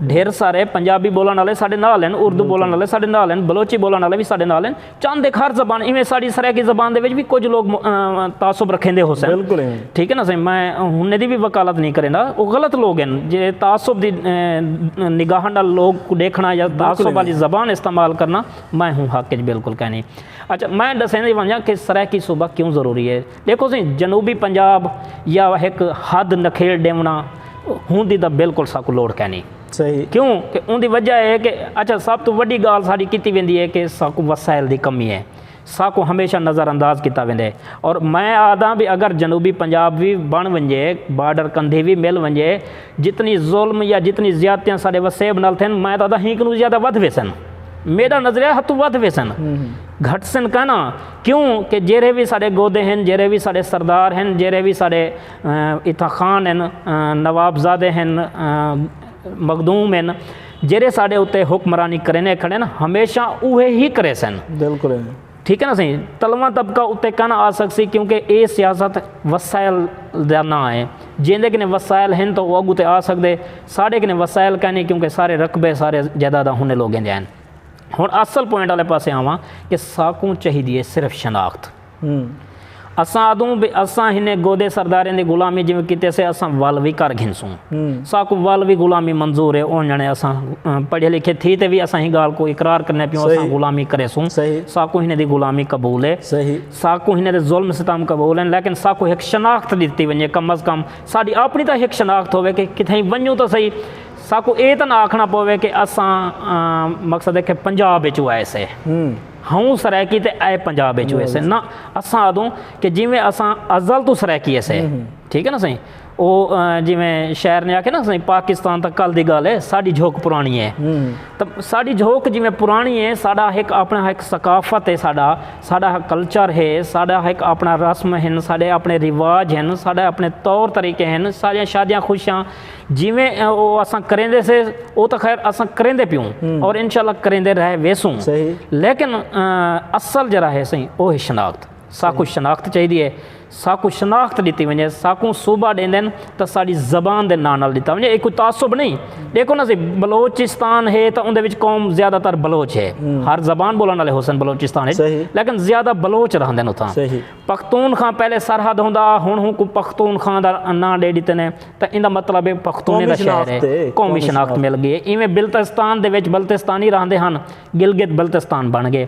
ڈھیر سارے پنجابی بولن آلے ساڈے نال ہن اردو بولن آلے ساڈے نال ہن بلوچی بولن آلے وی ساڈے نال ہن چند ایک ہر زبان ایویں ساڑی سرائیکی زبان دے وچ بھی کچھ لوگ تعصب رکھیں دے ہو سن بالکل ٹھیک ہے نا سائیں میں ہن دی بھی وکالت نہیں کریندا او غلط لوگ ہیں جے تعصب دی نگاہ نال لوگ کو دیکھنا یا تعصب والی زبان استعمال کرنا میں ہوں حق وچ بالکل کہنی اچھا میں دسین دی ونجا کہ سرائیکی صوبہ کیوں ضروری ہے دیکھو سی جنوبی پنجاب یا ایک حد نکھیڑ ڈیونا ہوں دی دا بالکل ساکو لوڑ کہنی کیوں کہ اوندی وجہ اے کہ اچھا سب توں وڈی گالھ ساڈی کیتی ویندی اے کہ ساکوں وسائل دی کمی اے ساکوں ہمیشہ نظر انداز کیتا ویندے اور میں آہداں بھی اگر جنوبی پنجاب وی بن ونجے بارڈر کندھی وی مل ونجے جتنی ظلم یا جتنی زیادتیاں ساڈے وسیب نال تھین میں تاں آہداں ہی کنوں زیادہ ودھ ویسن میڈا نظریہ ہتھوں ودھ ویسن گھٹسن کائناں کیوں کہ جیرھے وی ساڈے گودے ہن جیرھے وی ساڈے سردار ہن جیرھے وی ساڈے اتھاں خان ہن، نوابزادے ہن، مخدوم ہن جیرھے ساڈے اتے حکمرانی کریندے کھڑن ہمیشہ اوہے ہی کریسن۔ ٹھیک ہے نا سئیں تلواں طبقہ اتے کن آ سکسی کیونکہ اے سیاست وسائل دا ناں ہے جیندے کنے وسائل ہن تاں او اگو تے آ سکدے ساڈے کنے وسائل کائنی کیونکہ سارے رقبے سارے جائیداداں ہنے لوگیں دیاں ہن۔ ہن اصل پوائنٹ آلے پاسے آواں کہ ساکوں چاہیدی ہے صرف شناخت۔ اساں آدھوں بے اساں ہنے گودے سرداریں دی غلامی جیویں کیتے سے اساں ول وی کر گھنسوں۔ ساکوں ول وی غلامی منظور ہے اونجھنے اساں پڑھے لکھے تھی تے وی اساں ہی گال کوں اقرار کرنے پیوں اساں غلامی کریسوں۔ ساکوں ہنے دی غلامی قبول ہے۔ ساکوں ہنے دے ظلم ستم قبول ہیں لیکن ساکوں ہک شناخت ڈتی ونجے کم از کم ساڈی اپنی تاں ہک شناخت ہووے کہ کتھائیں ونجوں تاں سہی ساکوں اے تاں نہ آکھنا پووے کہ اساں مقصد ہے کہ پنجاب وچوں آئے سے۔ ہوں سرائیکی تے اے پنجاب اچ ہوئیسے نہ اساں آدھوں کہ جیویں اساں ازل توں سرائیکی ہسے ٹھیک ہے نا سائیں او جیویں شاعر نے آکھے نا سائیں پاکستان تاں کل دی گالھ ہے ساڈی جھوک پرانی ہے تاں ساڈی جھوک جیویں پرانی ہے ساڈا ہک اپنا ہک ثقافت ہے ساڈا ساڈا ہک کلچر ہے ساڈا ہک اپنا رسم ہن ساڈے اپنے رواج ہن ساڈے اپنے طور طریقے ہن ساڈیاں شادیاں خوشیاں جیویں او اساں کریندے سے او تاں خیر اساں کریندے پیوں اور انشاءاللہ کریندے رہ ویسوں لیکن اصل جیرھا ہے سئیں او ہے شناخت ساکوں شناخت چاہیدی ہے ساکوں شناخت ڈتی ونجے ساکوں صوبہ ڈیندن تاں ساڈی زبان دے ناں نال ڈتا ونجے اے کوئی تعصب نہیں ڈیکھو نا سئیں بلوچستان ہے تاں اوندے وچ قوم زیادہ تر بلوچ ہے ہر زبان بولن والے ہوسن بلوچستان وچ لیکن زیادہ بلوچ رہندن اتھاں پختون خاں پہلے سرحد ہوندا ہا ہن اونکوں پختون خاں دا ناں ݙے ݙتے نے تاں ایندا مطلب ہے پختونے دا شہر ہے قومی شناخت مل ڳئی ہے ایویں بلتستان دے وچ بلتستانی رہندے ہن گلگت بلتستان بݨ ڳئے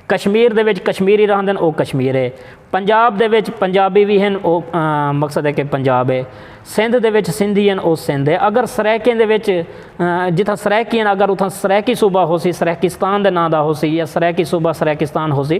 کشمیر دے وچ کشمیری رہندن او کشمیر ہے پنجاب دے وچ پنجابی وی ہن او مقصد ہے کہ پنجاب ہے سندھ دے وچ سندھی ہن او سندھ ہے اگر سرائیکیں دے وچ جتھاں سرائیکی ہن اگر اتھاں سرائیکی صوبہ ہوسی سرائیکستان دے ناں دا ہوسی یا سرائیکی صوبہ سرائیکستان ہوسی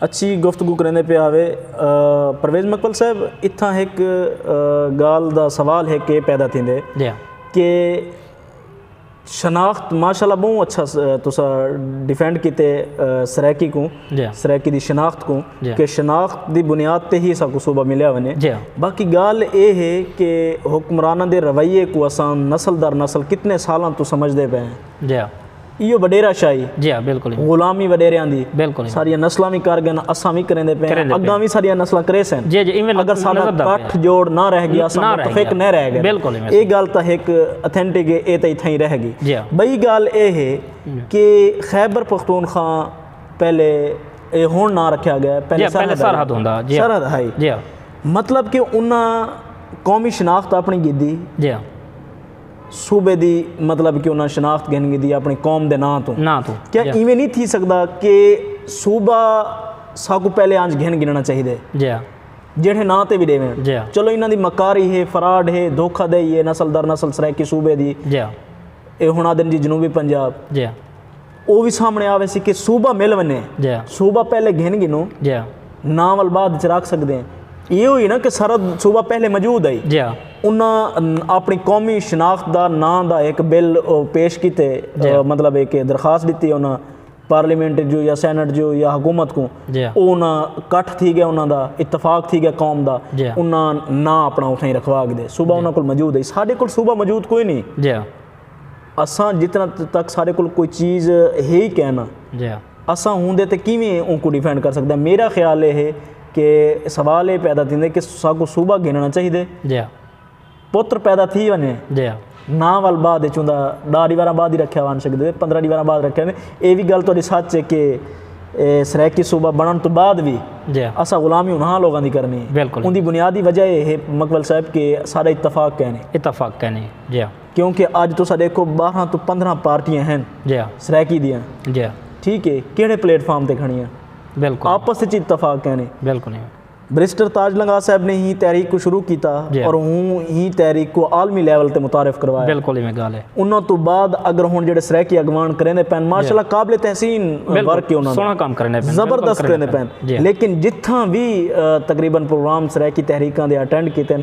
اچھی گفتگو کریندے پئے ہاوے۔ پرویز مقبل صاحب اتھاں ہک گالھ دا سوال ہک اے پیدا تھیندے کہ شناخت ماشاء اللہ بہوں اچھا تساں ڈیفینڈ کیتے سرائیکی کوں سرائیکی دی شناخت کوں کہ شناخت دی بنیاد تے ہی اساں کوں صوبہ ملیا ونجے باقی گالھ اے ہے کہ حکمراناں دے رویے کوں اساں نسل در نسل کتنے سالاں توں سمجھدے پئے ہیں۔ ایہو وڈیرا شاہی غلامی وڈیریاں دی ساریاں نسلاں وی کر گن اساں وی کریندے پئے ہیں اگاں وی ساریاں نسلاں کریسن اگر ساڈا کٹھ جوڑ نہ رہ گیا اساں متفق نہ رہ گئے اے گال تاں ہک اتھینٹک ہے اے تاں اتھاں ہی رہ گئی بئی گال اے ہے کہ خیبر پختونخوا پہلے اے ہن نہ رکھیا گیا پہلے سرحد ہوندا سرحد ہائی مطلب کہ انہاں قومی شناخت اپنی گدی صوبے دی مطلب کہ انہاں شناخت گھن گھدی اپنی قوم دے ناں توں ناں توں کیا ایویں نہیں تھی سکدا کہ صوبہ ساکو پہلے آنج گھن گھننا چاہی دے جیڑھے ناں تے بھی ڈیویں چلو انہاں دی مکاری ہے فراڈ ہے دھوکہ دے یہ نسل در نسل سرائیکی صوبے دی اے ہنا دن جی جنوبی پنجاب او وی سامنے آ ویسی کہ صوبہ مل ونجے صوبہ پہلے گھن گھنوں ناں ول بعد وچ رکھ سکدے ہیں ایہہ ہوئی نا کہ سرحد صوبہ پہلے موجود ہئی انہاں اپنی قومی شناخت دا ناں دا ہک بل پیش کیتے مطلب ہک درخواست ڈتی انہاں پارلیمنٹ جو یا سینٹ جو یا حکومت کو او انہاں کٹھ تھی گیا انہاں دا اتفاق تھی گیا قوم دا انہاں ناں اپنا اتھائی رکھوا گدے صوبہ انہاں کول موجود ہئی ساڈے کول صوبہ موجود کوئی نہیں اساں جتنا تک سارے کول کوئی چیز ہے ہی کینہ اساں ہوندے تے کیویں اونکوں ڈیفینڈ کر سکدے آں میرا خیال اے ہے کہ سوال اے پیدا تھیندے کہ ساکوں صوبہ گھننا چاہیدے پتر پیدا تھی ونجے نا ول بعد اچ ہوندا ڈاہ ڈیواراں بعد ہی رکھیا ون سکدے پندرہ ڈیواراں بعد رکھیا ون اے وی گل تہاڈی سچ اے کہ سرائیکی صوبہ بنن توں بعد وی اساں غلامی انہاں لوگاں دی کرنی اے اوندی بنیادی وجہ اے ہے مکمل صاحب کہ سارا اتفاق کینی۔ کیونکہ اج تساں ڈیکھو بارہ توں پندرہ پارٹیاں ہن سرائیکی دیاں ٹھیک ہے کیڑے پلیٹ فارم تے کھڑیاں آپس وچ اتفاق کینے بریسٹر تاج لنگاہ صاحب نے ہی تحریک کو شروع کیتا اور ہوں ہی تحریک کو عالمی لیول تے متعارف کروایا انہاں تو بعد اگر ہوں جڑے سرائیکی اگوان کرینے پین ماشاء اللہ قابل تحسین ورک ہے انہاں زبردست کرینے پین لیکن جتھاں بھی تقریبا پروگرام سرائیکی تحریکاں دے اٹینڈ کیتے ہیں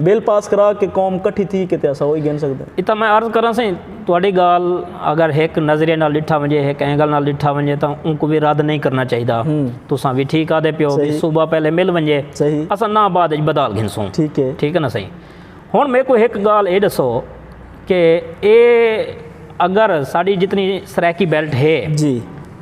بل پاس کرا کے قوم کٹھی تھی کے تے اساں اوہی گھن سکدے۔ اتھاں میں عرض کراں سئیں تہاڈی گالھ اگر ہک نظریے نال ڈٹھا ونجے ہک اینگل نال ڈٹھا ونجے تاں اونکوں وی رد نئیں کرنا چاہیدا۔ تساں وی ٹھیک آہدے پیو بھئی صوبہ پہلے مل ونجے اساں ناں بعد اچ بدال گھنسوں۔ ٹھیک ہے ناں سئیں۔ ہن میکوں ہک گالھ اے ڈسو۔ کہ اے اگر ساڈی جتنی سرائیکی بیلٹ ہے جی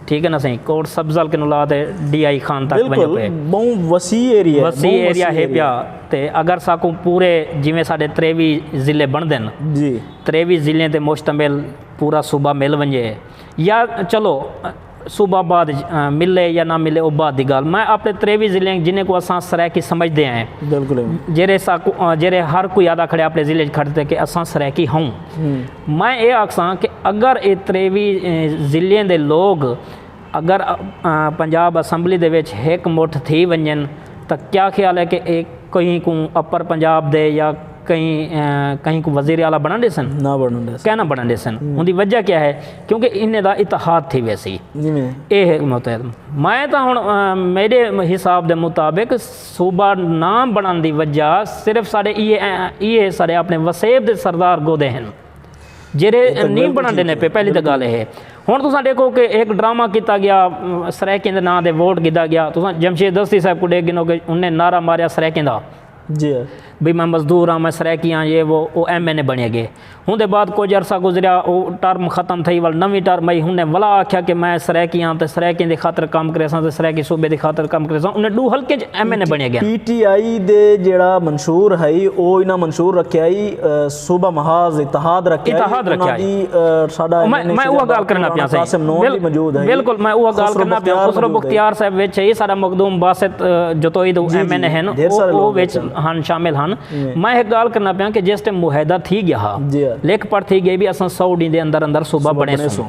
ٹھیک ہے نا سائیں کوٹ سبز ال کنوں لا تے ڈی آئی خان تک ونجو بالکل پے بہوں وسیع ایریا ہے وسیع بہوں ایریا ہے پیا تے اگر ساکوں پورے جویں ساڈے تریوی ضلع بن دن جی تریوی ضلع تے مشتمل پورا صوبہ مل ونجے یا چلو صوبہ آباد اچ ملے یا نہ ملے او بعد دی گالھ میں اپنے ترے وی ضلع ہن جنہیں کوں اساں سرائیکی سمجھدے ہیں جیرھے ہر کوئی آدھا کھڑے اپنے ضلع اچ کھڑ تے کہ اساں سرائیکی ہوں میں اے آکھساں کہ اگر اے ترے وی ضلع دے لوگ اگر پنجاب اسمبلی دے وچ ہک مٹھ تھی ونجن تاں کیا خیال ہے کہ اے کہیں کوں اپر پنجاب دے یا کہیں کہیں کوں وزیر اعلی بنن ڈیسن؟ کائناں بنن ڈیسن اون دی وجہ کیا ہے؟ کیونکہ انہیں دا اتحاد تھی ویسی اے ہے متحد میں تا ہن میرے حساب دے مطابق صوبہ نام بنان دی وجہ صرف سارے ای ہے سارے اپنے وسیب دے سردار گودے ہیں جیرے نہیں بنان دینے پہ پہلی تا گالے ہیں ہن تو ساں دیکھو کہ ایک ڈرامہ کیتا گیا سریکین دے نام دے ووٹ گدا گیا تو ساں جمشید دستی صاحب کو دیکھ گنو کہ انہیں نعرہ ماریا سریکین دا بھئی میں مزدور ہاں، میں سرائیکی ہاں، یہ وہ، او ایم این اے بݨے ڳئے۔ اوندے بعد کجھ عرصہ گزریا، او ٹرم ختم تھئی ول نویں ٹرم آئی، انھیں ولا آکھیا کہ میں سرائیکی ہاں تے سرائیکیں دی خاطر کم کریساں تے سرائیکی صوبے دی خاطر کم کریساں، انھیں ݙو حلقیں اچ ایم این اے بݨے ڳئن۔ پی ٹی آئی دے جیڑھا منشور ہئی، او انھاں منشور رکھیا ہئی۔ صوبہ محاذ اتحاد رکھیا ہے اتحاد رکھیا ہے ساڈا میں اوہ گال کرنا پیا سہی قاسم نور بھی موجود ہے بالکل میں اوہ گال کرنا پیا خسرو بختیار صاحب وچ ہے ساڈا مخدوم باسط جتوئی دو ایم این اے ہیں اوہ وچ ہن شامل ہن میں ایک گال کرنا پیا کہ جس ٹائم معاہدہ تھی گیا ہا لیکھ پڑھ تھی گئی بھی اساں سو ڈی دے اندر اندر صوبہ بنے سوں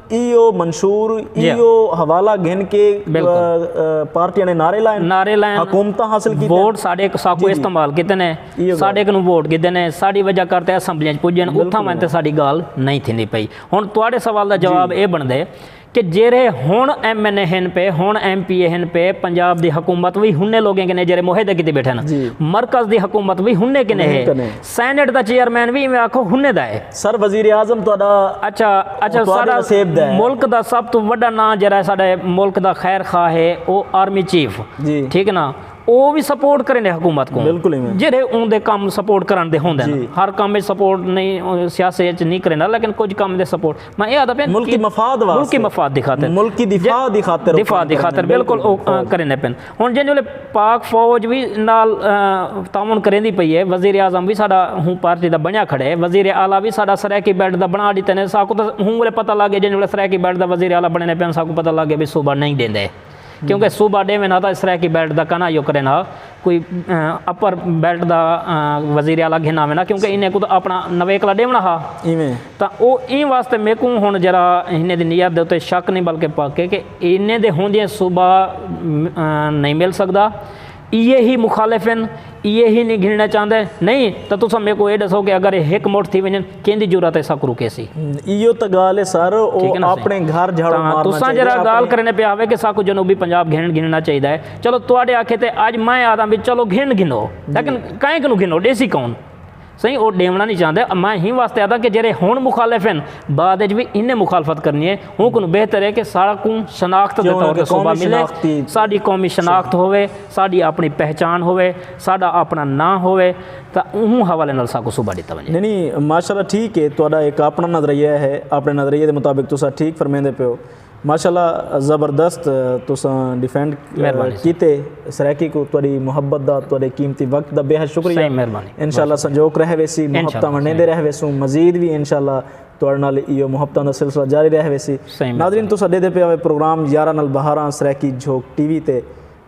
ایہو منشور ایہو حوالہ گھن کے پارٹیاں نے نعرے لائن نعرے لائن حکومتاں حاصل کیتے ووٹ ساڈے ساکو استعمال کیتے نے ساڈے کنوں ووٹ گھدے نے ساڈی وجہ کر تے اسمبلیاں وچ پجے نے اتھاں وین تے ساڈی گال نہیں تھیندی پئی ہن تہاڈے سوال دا جواب اے بنڑدے کہ جیرھے ہن ایم این اے ہن پے ہن ایم پی اے ہن پے پنجاب دی حکومت وی ہنے لوگیں کنے جیرھے معاہدے کیتی بیٹھے نا مرکز دی حکومت وی ہنے کنے ہے سینیٹ دا چیئرمین وی ایویں آکھو ہنے دا ہے۔ سر وزیر اعظم تہاڈا اچھا اچھا ساڈا ملک دا سب توں وڈا ناں جیرا ساڈے ملک دا خیر خواہ ہے او آرمی چیف ٹھیک نا او وی سپورٹ کریندے حکومت کو جیرے اون دے کم سپورٹ کرن دے ہوندے نا ہر کم وچ سپورٹ نہیں سیاسی وچ نہیں کریندا لیکن کچھ کم دے سپورٹ میں اے آدا پین ملکی مفاد واسطے ملکی مفاد دی خاطر ملکی دفاع دی خاطر دفاع دی خاطر بالکل او کریندے پین ہݨ جئیں ویلے پاک فوج وی نال تعاون کریندی پئی اے، وزیراعظم وی ساݙا ہوں پارٹی دا بݨیا کھڑے، وزیر اعلی وی ساݙا سرائیکی بیلٹ دا بݨا ݙتے نے، ساکوں تاں ہوں ویلے پتہ لڳ ڳئے جئیں ویلے سرائیکی بیلٹ دا وزیر اعلی بݨیندے پئن ساکوں پتہ لڳ ڳئے بھئی صوبہ نئیں ݙیندے کیوں کہ صوبہ ݙیون ہا تاں سرائیکی بیلٹ دا کانا یو کرن ہا کوئی اپر بیلٹ دا وزیر اعلی گھن آون ہا کیوں کہ انہیں کوں تاں اپݨا نویکلا ݙیوݨا ہا۔ تاں او ایں واسطے میکوں ہݨ ذرا انھیں دی نیت دے اتے شک نھیں بلکہ پک ہے کہ انھیں دے ہوندیاں صوبہ نھیں مل سڳدا۔ ایہے ہی مخالف ہن، ایہے ہی نھیں گھنݨا چاہندے۔ نھیں تاں تساں میکوں ایہ ݙسو کہ اگر ایہ ہک مٹھ تھی ونڄن کیندی جرات ہے ساکوں روکیسی؟ ایہو تاں ڳالھ ہے سر، او آپݨے گھر جھاڑو مارݨا چاہیدے۔ تساں ذرا ڳالھ کرݨے پئے ہاوے کہ ساکوں جنوبی پنجاب گھنݨ گھنݨا چاہیدا ہے۔ چلو تہاݙے آکھے تے اڄ میں آہداں وی چلو گھنݨ گھنو۔ لیکن کائیں کنوں گھنو؟ ݙیسی کون؟ سئیں او ڈیونڑاں نی چاہندے میں ایں واسطے آہداں کہ جیرھے ہنڑ مخالف ہن بعد اچ وی انہیں مخالفت کرنی اے اوں کنوں بہتر اے کہ ساڑا کوں شناخت دے طور تے صوبہ ملے ساڈی قومی شناخت ہووے ساڈی اپنڑی پہچان ہووے ساڈا اپنڑا ناں ہووے تاں اوں حوالے نال ساکوں صوبہ ڈتا ونجے۔ نی نی ماشاءاللہ ٹھیک ہے تہاڈا ایک اپنا نظریہ ہے اپنے نظریے دے مطابق تساں ٹھیک فرمیندے پیو۔ ماشاءاللہ زبردست تساں ڈیفینڈ کیتے سرائیکی کوں تہاڈی محبت دا تہاڈے قیمتی وقت دا بیحد شکریہ انشاءاللہ سنجوک رہ ویسی محبتاں ونڈیندے رہ ویسوں مزید وی انشاءاللہ تہاڈے نال ایہو محبتاں دا سلسلہ جاری رہ ویسی ناظرین تساں ڈیدھے پئے ہو پروگرام یاراں نال بہاراں سرائیکی جھوک ٹی وی تے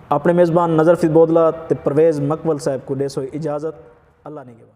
اپنے میزبان نذر فیض بودلہ تے پرویز مکول صاحب کوں ڈیسو اجازت اللہ نگہبان۔